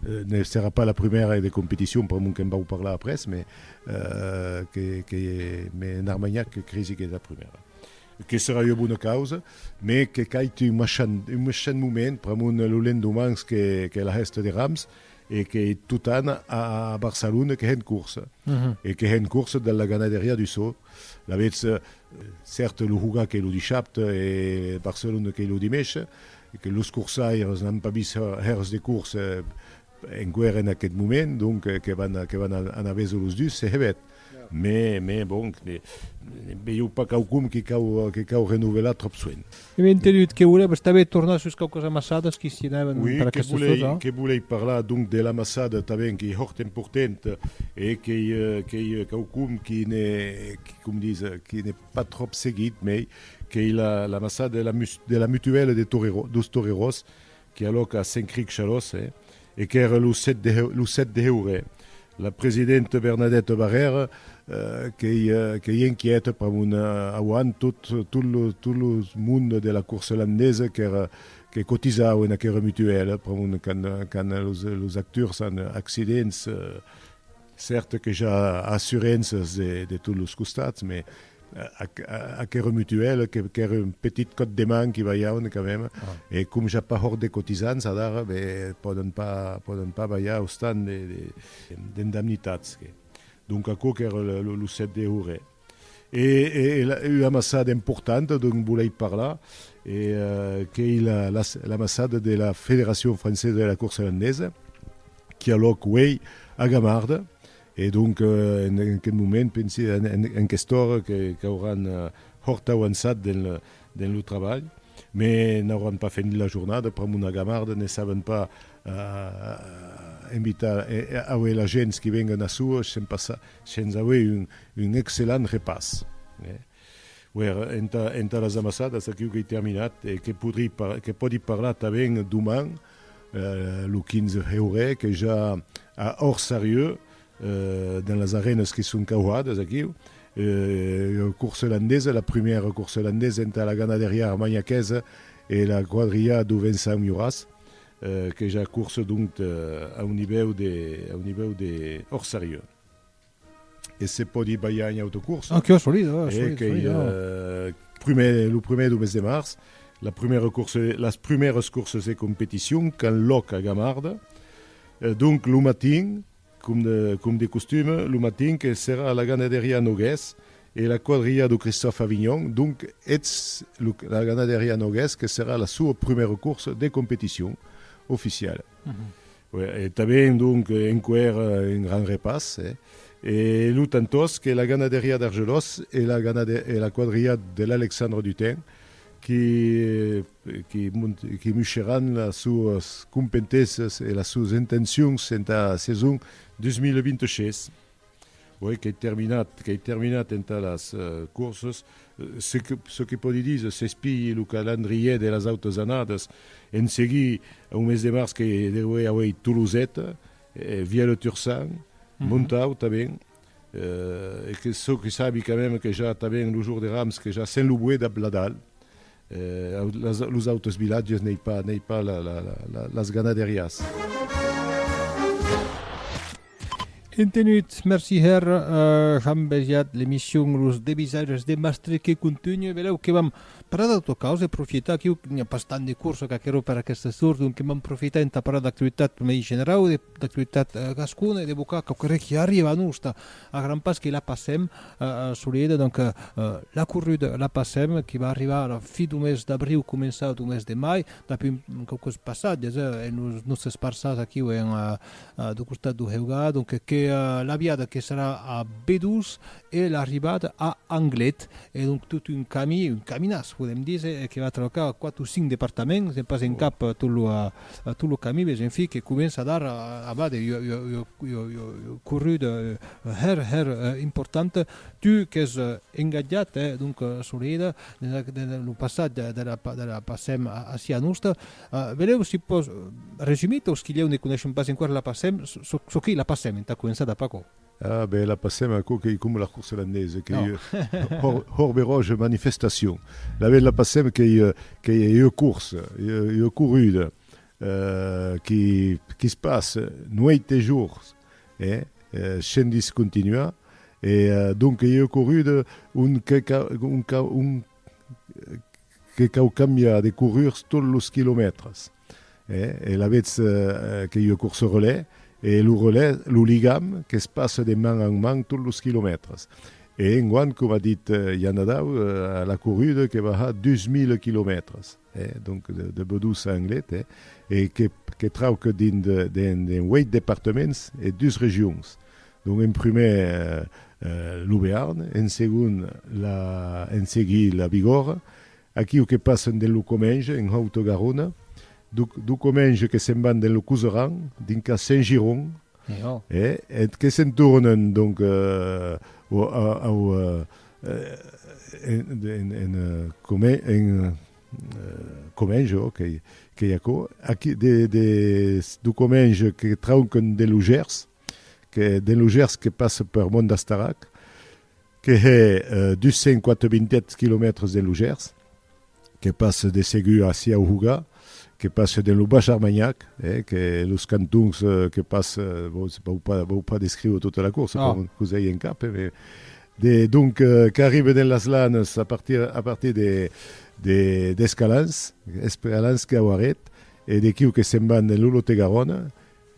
Ne serà pas la prumèra de competicion pr'amont que'n vau parlar après, mais, que, que, mais en Armanhac que cresi qu'es la prumèra. Que serà ua bona causa, mais que cait un machan, un machan moment, pr'amont lo lendemans qu'es, qu'es la hèsta de Rams, e que totan a Barcelona que hèn corsa e que hèn corsa de la ganaderia du so, lavetz cèrt lo Huga qu'ei lo dishapte e Barcelona qu'ei lo dimesche, e que los corsaires n'an pas vist hèrs de corsa enqüèra en aqueth moment, donc que van anar veso los dus se hèvet. Mè, mè, bon, ne veieu pas quauqu'un que cau, que cau renovelar tròp soent. Èm entenut que volèves tanben tornar sus quauquas amassadas qui s'i anèven per aquesta zòna. Ui, que volèi parlar donc de l'amassada tanben qu'ei hòrt emportent e qu'ei, qu'ei quauqu'un qui ne, qui, com dis, qui ne pas tròp seguit, mei qu'ei la, l'amassada de la, de la mutuèla de torerò, dos toreròs, que alòc a Sencric Chalòs hè, e qu'ère lo 7 de lo 7 de heure, la presidente Bernadette Barrère eh, qu'ei qu'ei inquiète per mon auant tot tot lo tot lo monde de la course holandaise qu'ère que cotisau en aquera mutuelle per mon quand quand los los acturs an accidents eh, Certe que ja assurenças de de tot los costats, me aquera mutuelle que qu'ère un petit còp de man qui balhauen quand même, e com ja pas hòrt de cotisants adara, be pòden pas pòden pas balhar austant de de d'indemnitats que donc aquò qu'ère lo lo 7 de houret. E ua massada importanta dont volèi parlar qu'ei la massada de la Federacion Francesa de la Corsa Landesa qui a lòc uei a Gamarda e donc en aquest moment pensi en aquesta ora qu'auràn hòrt auançat dens lo trabalh me n'auràn pas fenit la jornada pr'amont a Gamarda ne saben pas invitar aué la gents qui vengan a suos se'n passa Sens auer un, un excellent repàs. Eh? Uèr, entà, entà las amassadas, aquiu qu'ei terminat, e que podri, que pòdi parlar tanben doman, eh, lo 15 heure, que ja a Òrsarieu, eh, dens las arènas que son cauhadas aquiu, eh, coursa olandesa, la prumèra coursa olandesa entà la ganaderiá armanhaquesa e la quadrilhá d'Ovençan Miuràs. que ja curse donc a un nivèu de a un nivèu de hors serieu e se pòdi balhar un autre curs ah que solid ah solid que primer lo primer du mes de març la prumèra curse las prumèras curses e competicions qu'an lòc a Gamarda donc lo matin Com de costume, lo matin que serà a la ganaderia Noguès e la quadrilha do Christòphe Avignon, donc eths la ganaderia Noguès que serà la soa prumèra corsa de competicion oficiala. E tanben donc enqüèr un grand repàs e lo tantòs que la ganaderia d'Argelós e la quadrilha de l'Alexandre Dutèn que muisheràn las suas compentesas e las suas intencions entà sason 2026. Uèi qu'ei terminat, qu'ei terminat entà las courses, çò que pòdi díser, s'espilhi lo calandrièr de las autras annadas, en seguir au mes de març que deuriá auer Toloseta, Vialeux-Tursan, Montau tanben, E que çò que sabi quand même que ja tanben lo jour de Rams que ja sen lo boé dab la dal los autres vilatges n'ei pas n'ei pas la la la las ganaderias. Entenut, merci hèr Jean Besiat, l'emission Los Debisaires de Mastre que contunhe, velèu que vam parlar d'autra causa e profitar aquiu que n'i a pas tant de corsa qu'aquerò per aquesta sort, donc vam profitar entà parlar d'actualitat mei generau e de d'actualitat gascona e de bocar quauque re qui arriba a nosta a gran pas que la passem solida donc la corruda la passem qui va arribar a la fi du mes d'abriu començar du mes de mai dapi quauques passatges en los nòstes parças aquiu en du costat du Heugà donc que l'aviada que serà a Bedús e l'arribada a Anglet e donc tot un camí un caminàs podem díser que va trabacar quatre o cinc departaments e pas en cap tot lo A tot lo camí ves un filh que comença a dar a bade ua corruda hèr hèr importanta. Tu qu'ès engatjat hè donc Soleida dens lo passat de la Pacem aciá nosta, velèu si pòs resumir peus qui lhèu ne coneishen pas enquara la Pacem, çò qu'ei la Pacem entà començar dap'aquò? Ah ben la passèm aquò qu'ei coma la corsa irlandesa qu'ei hors beròja manifestacion. La ben la passèm qu'ei qu'ei ua corsa, ua corrida qui qui se passe nueit e jours e shen discontinuar e donc ei ua corrida ont que qu'a ont qu'a ont que cau cambiar de corrurs tot los quilomètres. E lavetz que ua corsa au relais, e lo relais, lo ligam que's passa de man en man tot los quilomètres. E enguant, coma dit Jan Adau, la corrida que va har 2000 quilomètres, donc de Bedós a Anglet, e que trauc dins de 8 departaments e dus regions. Donc en prumèr lo Bearn, en segon en seguir la Bigòrra, Aquiu que passen de lo comenge en Haute Garona, do comenge que se'n van de lo Couseran, dinca Saint-Giron, e que se'n tornen donc au en comenge, ok, qu'ei aquò, aqui do comenge que trauquen de lo Gers, que de lo Gers que passe per Mont d'Astarac, que hè 287 quilomètres de Lugèrs, que passe de Segur a Siauhuga, que passe dens lo Baish Armanhac, hè, que los cantons que passe, bon, se vau pas, vau pas descriure tota la course, Non. com vos ai en cap, hè, mais de, donc, qu'arribe dens las Lanes a partir, a partir de, de, d'Escalans, Escalans, Cauaret, e dequiu que se'n van dens lo Lot-et-Garonne,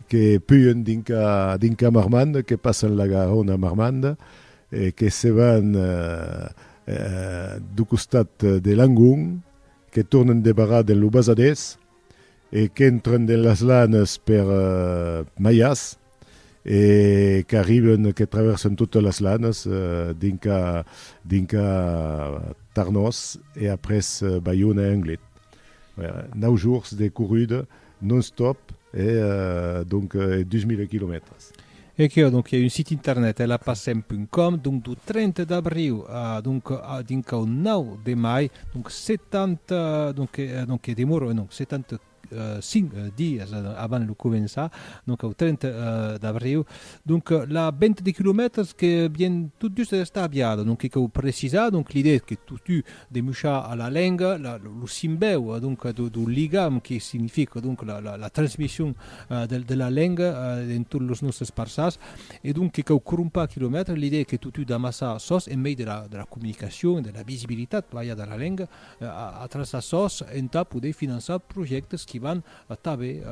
que puen dinca dinca Marmande, que passan la Garonne a Marmande, e que se van dau costat de Langon, que tornan de barrar dens lo Basadés e qu'entran dens las Lanes per Maias e qu'arriban, que traversan totas las Lanes dinca dinca Tarnòs e après Baiona e Anglet. Nau jorns de corruda Non-stop e donc 2000 quilomètres. E qué donc i a un site internet e la passem punt com donc du 30 d'abriu a donc a dinc au 9 de mai donc 70 donc e donc e demoro e non 70 5 dies avant lo començar donc au 30 d'abriu donc la venta de quilomètres que bien tot just d'estar aviada donc e qué au precisar donc l'idée es que totu de muchar a la lenga lo simbèu donc do ligam que significa donc la transmission de la lenga dens tot los nòstes parças e donc que cau crompar quilomètres l'idèa que totú d'amassar sos en mei de la comunicacion e de la visibilitat balha de la lenga a tras a sos entà poder finançar projèctes qui van tanben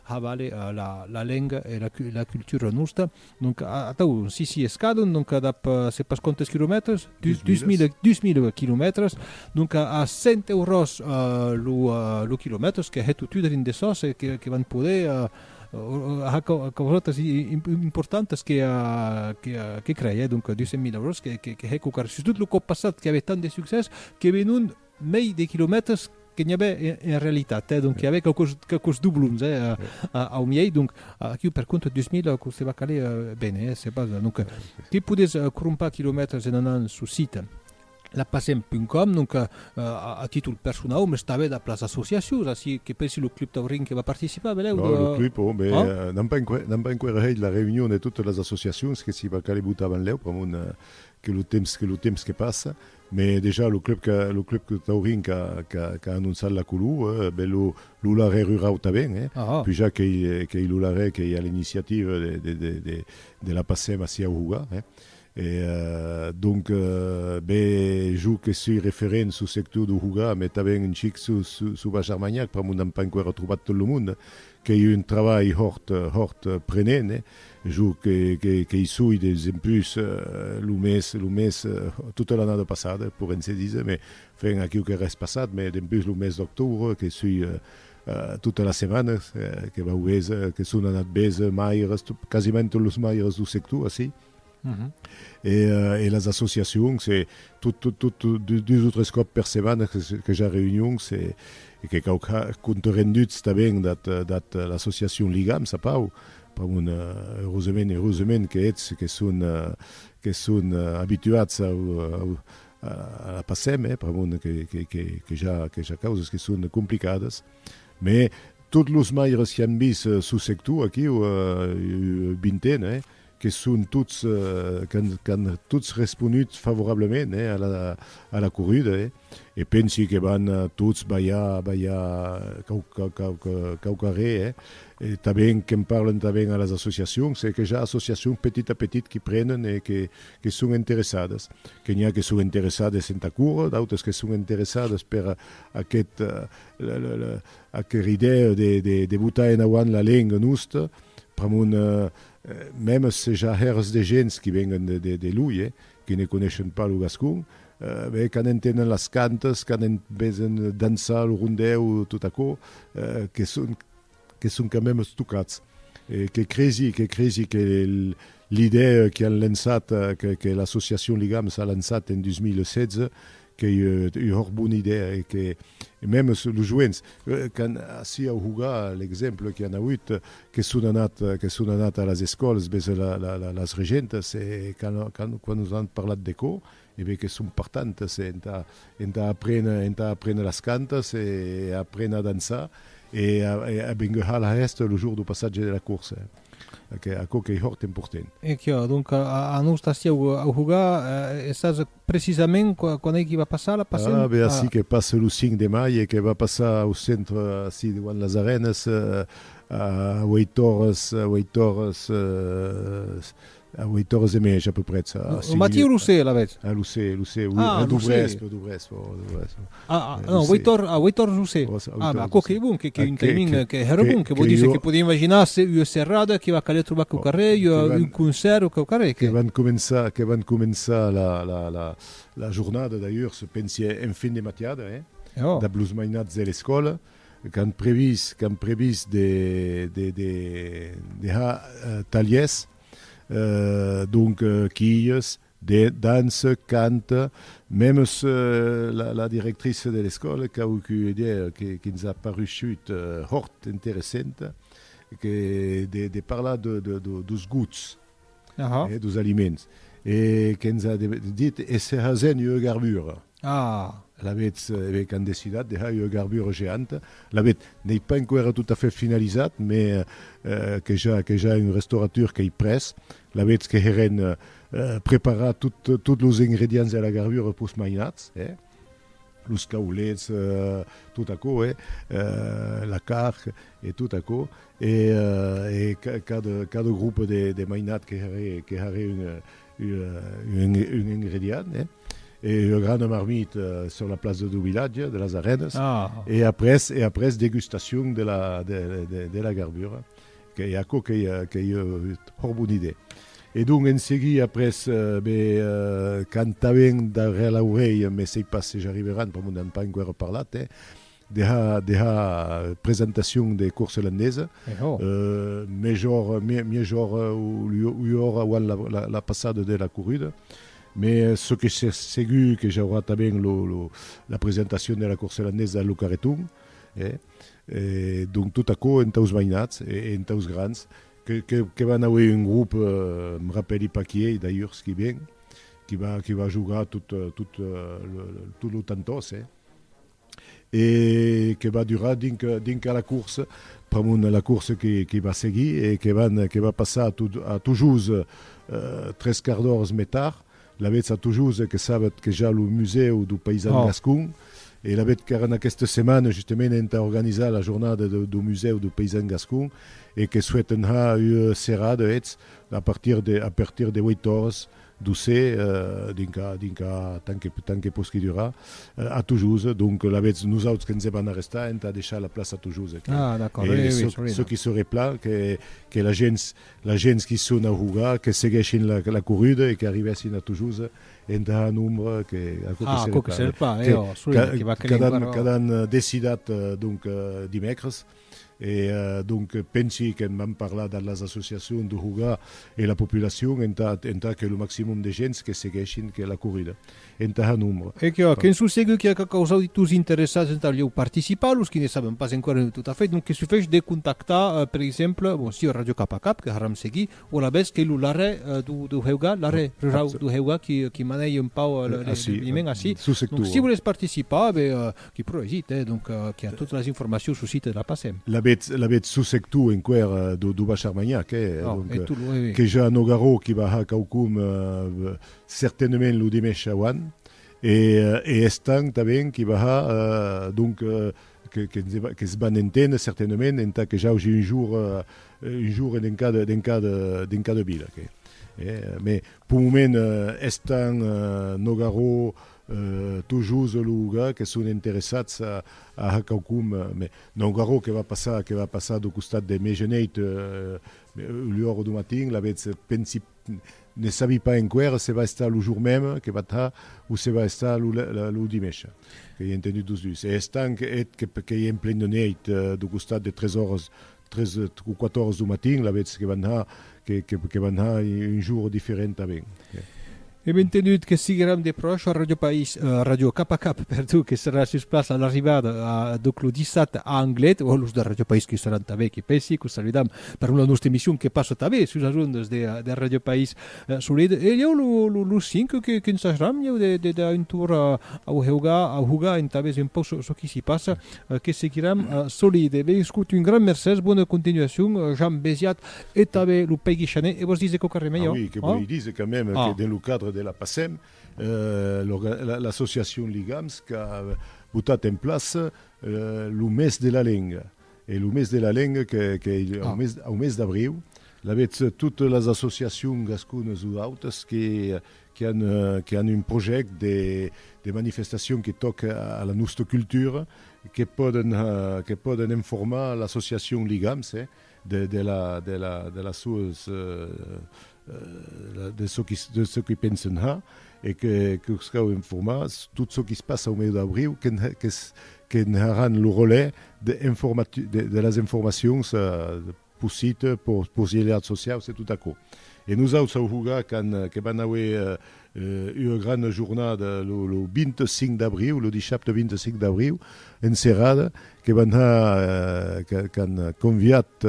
havaler la lenga e la cultura nosta Donc atau, si si es cadun, donc dab se pas quantes quilomètres, dus, dus mile, dus mile quilomètres, donc a 100 euros lo lo quilomètres que hè totut dins de sos e que que van poder ha causotas importantas que que que crei hè, donc 200.000 euros que que hè cocar sustot lo còp passat que avè tant de succès que venon mei de quilomètres que n'i avè en realitat, eh? Donc i avè quauqueus, quauqueus doblons, eh? Au miei, donc aquiu per compte dus mil que se va caler ben, eh? Se pas, donc que podés crompar quilomètres en anant sus site lapacem.com, donc a títol personau, mès tanben dab las associacions, ací que pensi lo Club Taurin que va participar, velèu? Non, lo Club, oh, mès n'an pas enqüèra, n'an pas enqüèra hèit la reünion de totes las associacions que s'i va caler botar benlèu, pr'amont que lo temps, que lo temps que passa, Mai dejà lo club que lo club de Taurin qu'a qu'a qu'a anonçat la colo, eh, ben lo lo larè rurau tanben, eh, Aha. puja qu'ei qu'ei lo larè qu'ei a l'iniciativa de de de de de la Pacem ací au Houga, eh. E eh, donc, ben jo que soi referent sul sector do Houga, mai tanben un chic sul sul sul Baixa Armanhac, pr'amor n'am pas enqüèra trobat tot lo monde, Qu'ei un trabalh hòrt, hòrt prenent, eh? Jo qu'ei soi deis empús lo mès, lo mès, tota l'annada passada, poren se díser, mais enfin aquiu qu'ei res passat, mais dempús lo mès d'octobre que soi tota las setmanas, que vau béser, que son anat béser maires, quasiment tots los maires dau sector ací. e las associacions e tot dus o tres còp per setmana que ja reünions e que cau compte renduts tanben dat l'associacion Ligam sa pau un eusament eusament que ets que son que son abituats a la passem e pr'amor que ja causas que son complicadas me tot los maires qu'an vis sus sector aquiu vintena e que son tots, qu'an tots responut favorablament a la corrida, e pensi que van tots balhar, balhar quauquarré, e tanben qu'en parlan tanben a las associacions, e que ja associacions petit a petit qu'i prenen e que son interessadas, que n'i a que son interessades entà córrer, d'autres que son interessades per aquest, aquera idèa de botar en auant la lenga nosta, pr'amont Mèm se ja hèrs de gents qui venguen de loi e qui ne coneishen pas lo gascon, ben, quand entenen las cantas, quand en vesen dançar lo rondèu, tot aquò, que son, que son quand mèm estocats. E que cresi, que cresi que l'idèa qui an lançat, que l'associacion Ligams a lançat en 2016, Qu'ei ua bona idèa e que mèm es los joents qu'an ací au Hugà, l'exemple que an agut, que son anat, que son anat a las escòles ves las regentas e qu'an, qu'an, quan nos an parlat de cò, e ben que son partantes e entà, entà aprene, entà aprene las cantas e aprene a dançar e a benguehar la hèsta lo jour du passatge de la corsa. Aquò qu'ei hòrt emportent. E quò, donc, a nos ací au Hugà, e sas Precisament quan ei que va passar la passen? Ah, be ací que passe lo 5 de mai e que va passar au centre ací deuant las Arenas a 8 oras, a 8 oras, a 8 oras e mèja peu prètz. Lo matí o lo se alavetz? Ah, lo se, lo se, oui, dau vespre, dau vespre, dau vespre. Ah, ah, non, Weitor, ah, Weitor Rousset. Oh, ça, ah, bah, quoi que bon, que, que, un timing, que, que era bon, que, que, que dice, que podia imaginar se ua serrada que va caler trobar que oh, carrer, que van, un concert o que carrer. Que, que van començar, que van començar la, la, la, la jornada d'ailleurs, se pensi en fin de matiada, eh? Oh. Da blues mainats de l'escola, qu'han previst, qu'han previst de, de, de, de ha uh, taliers, uh, donc uh, quilles, de dança, cant, mèmes la directrice de l'escòla qu'a auut ua idèa que ns a parusut hòrt interessenta, que de parlar dos gots, dos aliments, e que ns a dit, e se hasèn ua garbura. A! Alavetz, e be qu'an decidat de hèr ua garbura geanta. Alavetz, n'ei pas enqüèra tot a fait finalizat, me que ja que ja un restauratur qu'ei près. Alavetz que heren preparat tot tot los ingredients de la garbura pus mainats, e. Los caulets, tot aquò, e. La carn, e tot aquò, e e cada cada grupa de de mainat que haré que haré un un ingredient, eh? e ua grana marmita sur la plaça dau vilatge, de las Arenas, e après, e après degustacion de la, de, de, de la garbura, qu'ei aquò qu'ei, qu'ei hòr bona idèa. E donc en seguir après, be, cantauen darrèr l'aurelha, mès ei pas se j'arriveran, pr'amor n'an pas enqüèra parlat, eh? Deha deha presentacion de cors olandesa mejor mejor uiora uan la passada de la corrida me çò que se segu que j'aurà tanben lo lo la presentacion de la cors olandesa lo carreton e donc tot aquò entaus mainats e entaus grans que que que van auer un grop me rapèli pas qui ei d'ailleurs qui ven qui va qui va jogar tot tot lo tantòs e e que va durar dinc a la course pr'amont la course que va seguir e que va passar a Tujós tres quarts d'oras mai tard lavetz a Tujós e que sabetz que ja lo musèu do paisan gascon e lavetz qu'èran aquesta setmana justament entà organizar la jornada do musèu do paisan gascon e que souèt enhar ua serada hetz a partir de 8 oras Doce, dinca, dinca, tant que, tant que posqui durar, a Tujós, donc lavetz nosauts que 'ns èm a n'arrestar entà deishar la plaça a Tujós, e que, e çò, çò qui serai pla, que, que la gents, la gents qui son a Hogar, que seguèshin la, la corruda e que arribèssin a Tujós entà un nombre que, aquò que serai pla, que, que, qu'adan, qu'adan decidat, donc, dimècres. E donc pensi que vam parlar de las associacions de jogar e la populacion entà entà que lo maximum de gents que seguèshin que la corrida entà un nombre. E qu'a qu'en son segur qu'a qu'a qu'aus auditors interessats entà lheu participar, los qui ne saben pas encara tot a fait, donc que sufesh de contactar per exemple, bon sieu Radio Cap a Cap que haram seguit, O la bes que lo larrè do heuga, larrè rurau do heuga qui manèi un pau l'eveniment ací. Donc si volètz participar, ben qui pro esit, eh, donc qui a totas las informacions sul site de la PACEM. L'avètz sus sector enqüèr do Bach Armagnac, eh, donc que ja Nogarò qui va har quaucun certainement lo dimèch auant e Estang tanben qui va har, donc. Que's van enténer certainament entà que j'augi un jour un jour en cada en cada en cada vila que mais pour moment estan Nogarò Tolhosa Louga que son interessats a a ha quaucun mais Nogarò que va passar que va passar do costat de Megeneid l'ora do matin l'avetz pensi Ne sabi pas enqüèra se va estar lo jour meme que va tà o se va estar lo dimècha, que i a entendut los dus. E estanc eth que i en plen de nèit, d'o costat de tres oras, tres o quatre oras d'o matin, la vètz que va nar, que va nar un jour diferent a ben. Èm entendut que sigueram de pròche a Ràdio País, Ràdio Cap a Cap, perdó, que serà sus plaça a l'arribada, donc lo dissabte a Anglet, o los de Ràdio País que i seràn tanben, que pensi, que os saludam. per una nòste emission que passa tanben sus las ondas de Radio País Solid e ieu los cinc que que ensajam ieu de de dar un tour au heuga a hugar entà veser un pauc çò qui s'hi passa que seguiram solid e ben escut un grand mercés bona continuacion Jean Besiat e tanben lo Pègui Chanet e vos dise quauquarren de melhor ah oui que vòli dise quand même que dins lo cadre de la PACEM l'associacion Ligams qu'a botat en plaça lo mes de la lenga E lo mes de la lenga qu'ei au mes d'abriu, lavetz totes las associacions gasconas o autas que an un projèct de manifestacion que tòca a la nòsta cultura, que pòden informar l'associacion Ligams de las sòas de çò qui de çò qui pensen ja e que que us cau informar tot çò qui se passa au mèu d'abriu que qu'es que ne haràn lo relais de informati de de las informacions pos site pos pos ieliats sociaus e tot aquò e nosaus au huga qu'an que van auer Ua grana jornada lo 25 d'abriu, lo dissabte 25 d'abriu, en serada, que van anar, qu'an conviat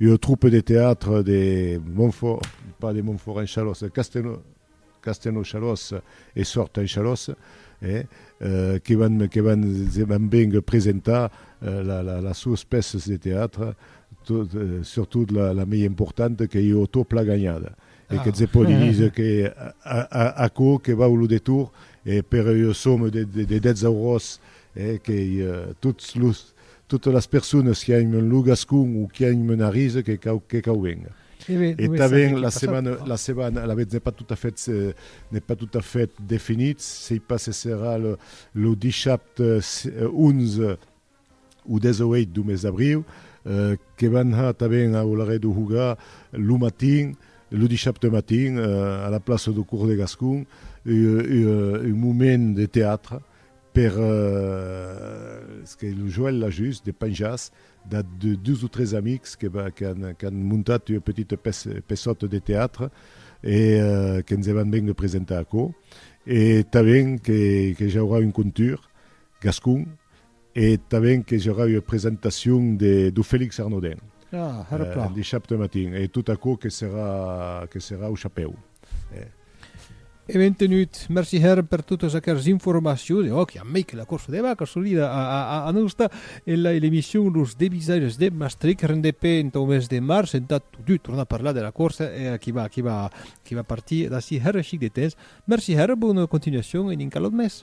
ua troupe de teatre de Montfort, pas de Montfort en Chalosse, de Castelnau, Castelnau Chalosse e Sort en Chalosse, que van, que van, se van vénguer presentar las suas pèças de teatre, tot, surtout la mei importanta qu'ei Otó Plaganhada. e que se pòdi díser que aquò que vau lo detour e per ua soma de 10 auròs que tots los totas las personas qui an lo gascon o qui an un arís que cau venga e tanben la setmana la setmana alavetz n'es pas tot a fait n'es pas tot a fait definit sei pas se serà lo dissabte 11 o 18 do mes d'abriu, que van har tanben au Larret do Houga lo matin, lo dishapte matin, a la plaça do Cours de Gascon, un moment de teatre per, es que lo Joël l'a just, de penjars, de dus o tres amics qu'an montat ua petita peçòta de teatre e que 'nse van ben de presentar aquò. E tanben que j'aurà un contur. Gascon, e tanben que j'aurà ua presentacion de do Felix Arnaudin. Ah, hèra plan. Dissabte matin, e tot aquò que serà, que serà au chapèu. Eh. E ben tenut. Merci hèra per totas aqueras informacions. E òc, i a mei que la corsa de vacas solida a, a, a, a nos da en la, en l'emission Los Devisaires de Maastricht, rendp entau mes de març, entà totut tornar parlar de la corsa e qui va, qui va, qui va partir d'ací hèra chic de temps. Merci hèra, bona continuacion e dinc a l'aut mes.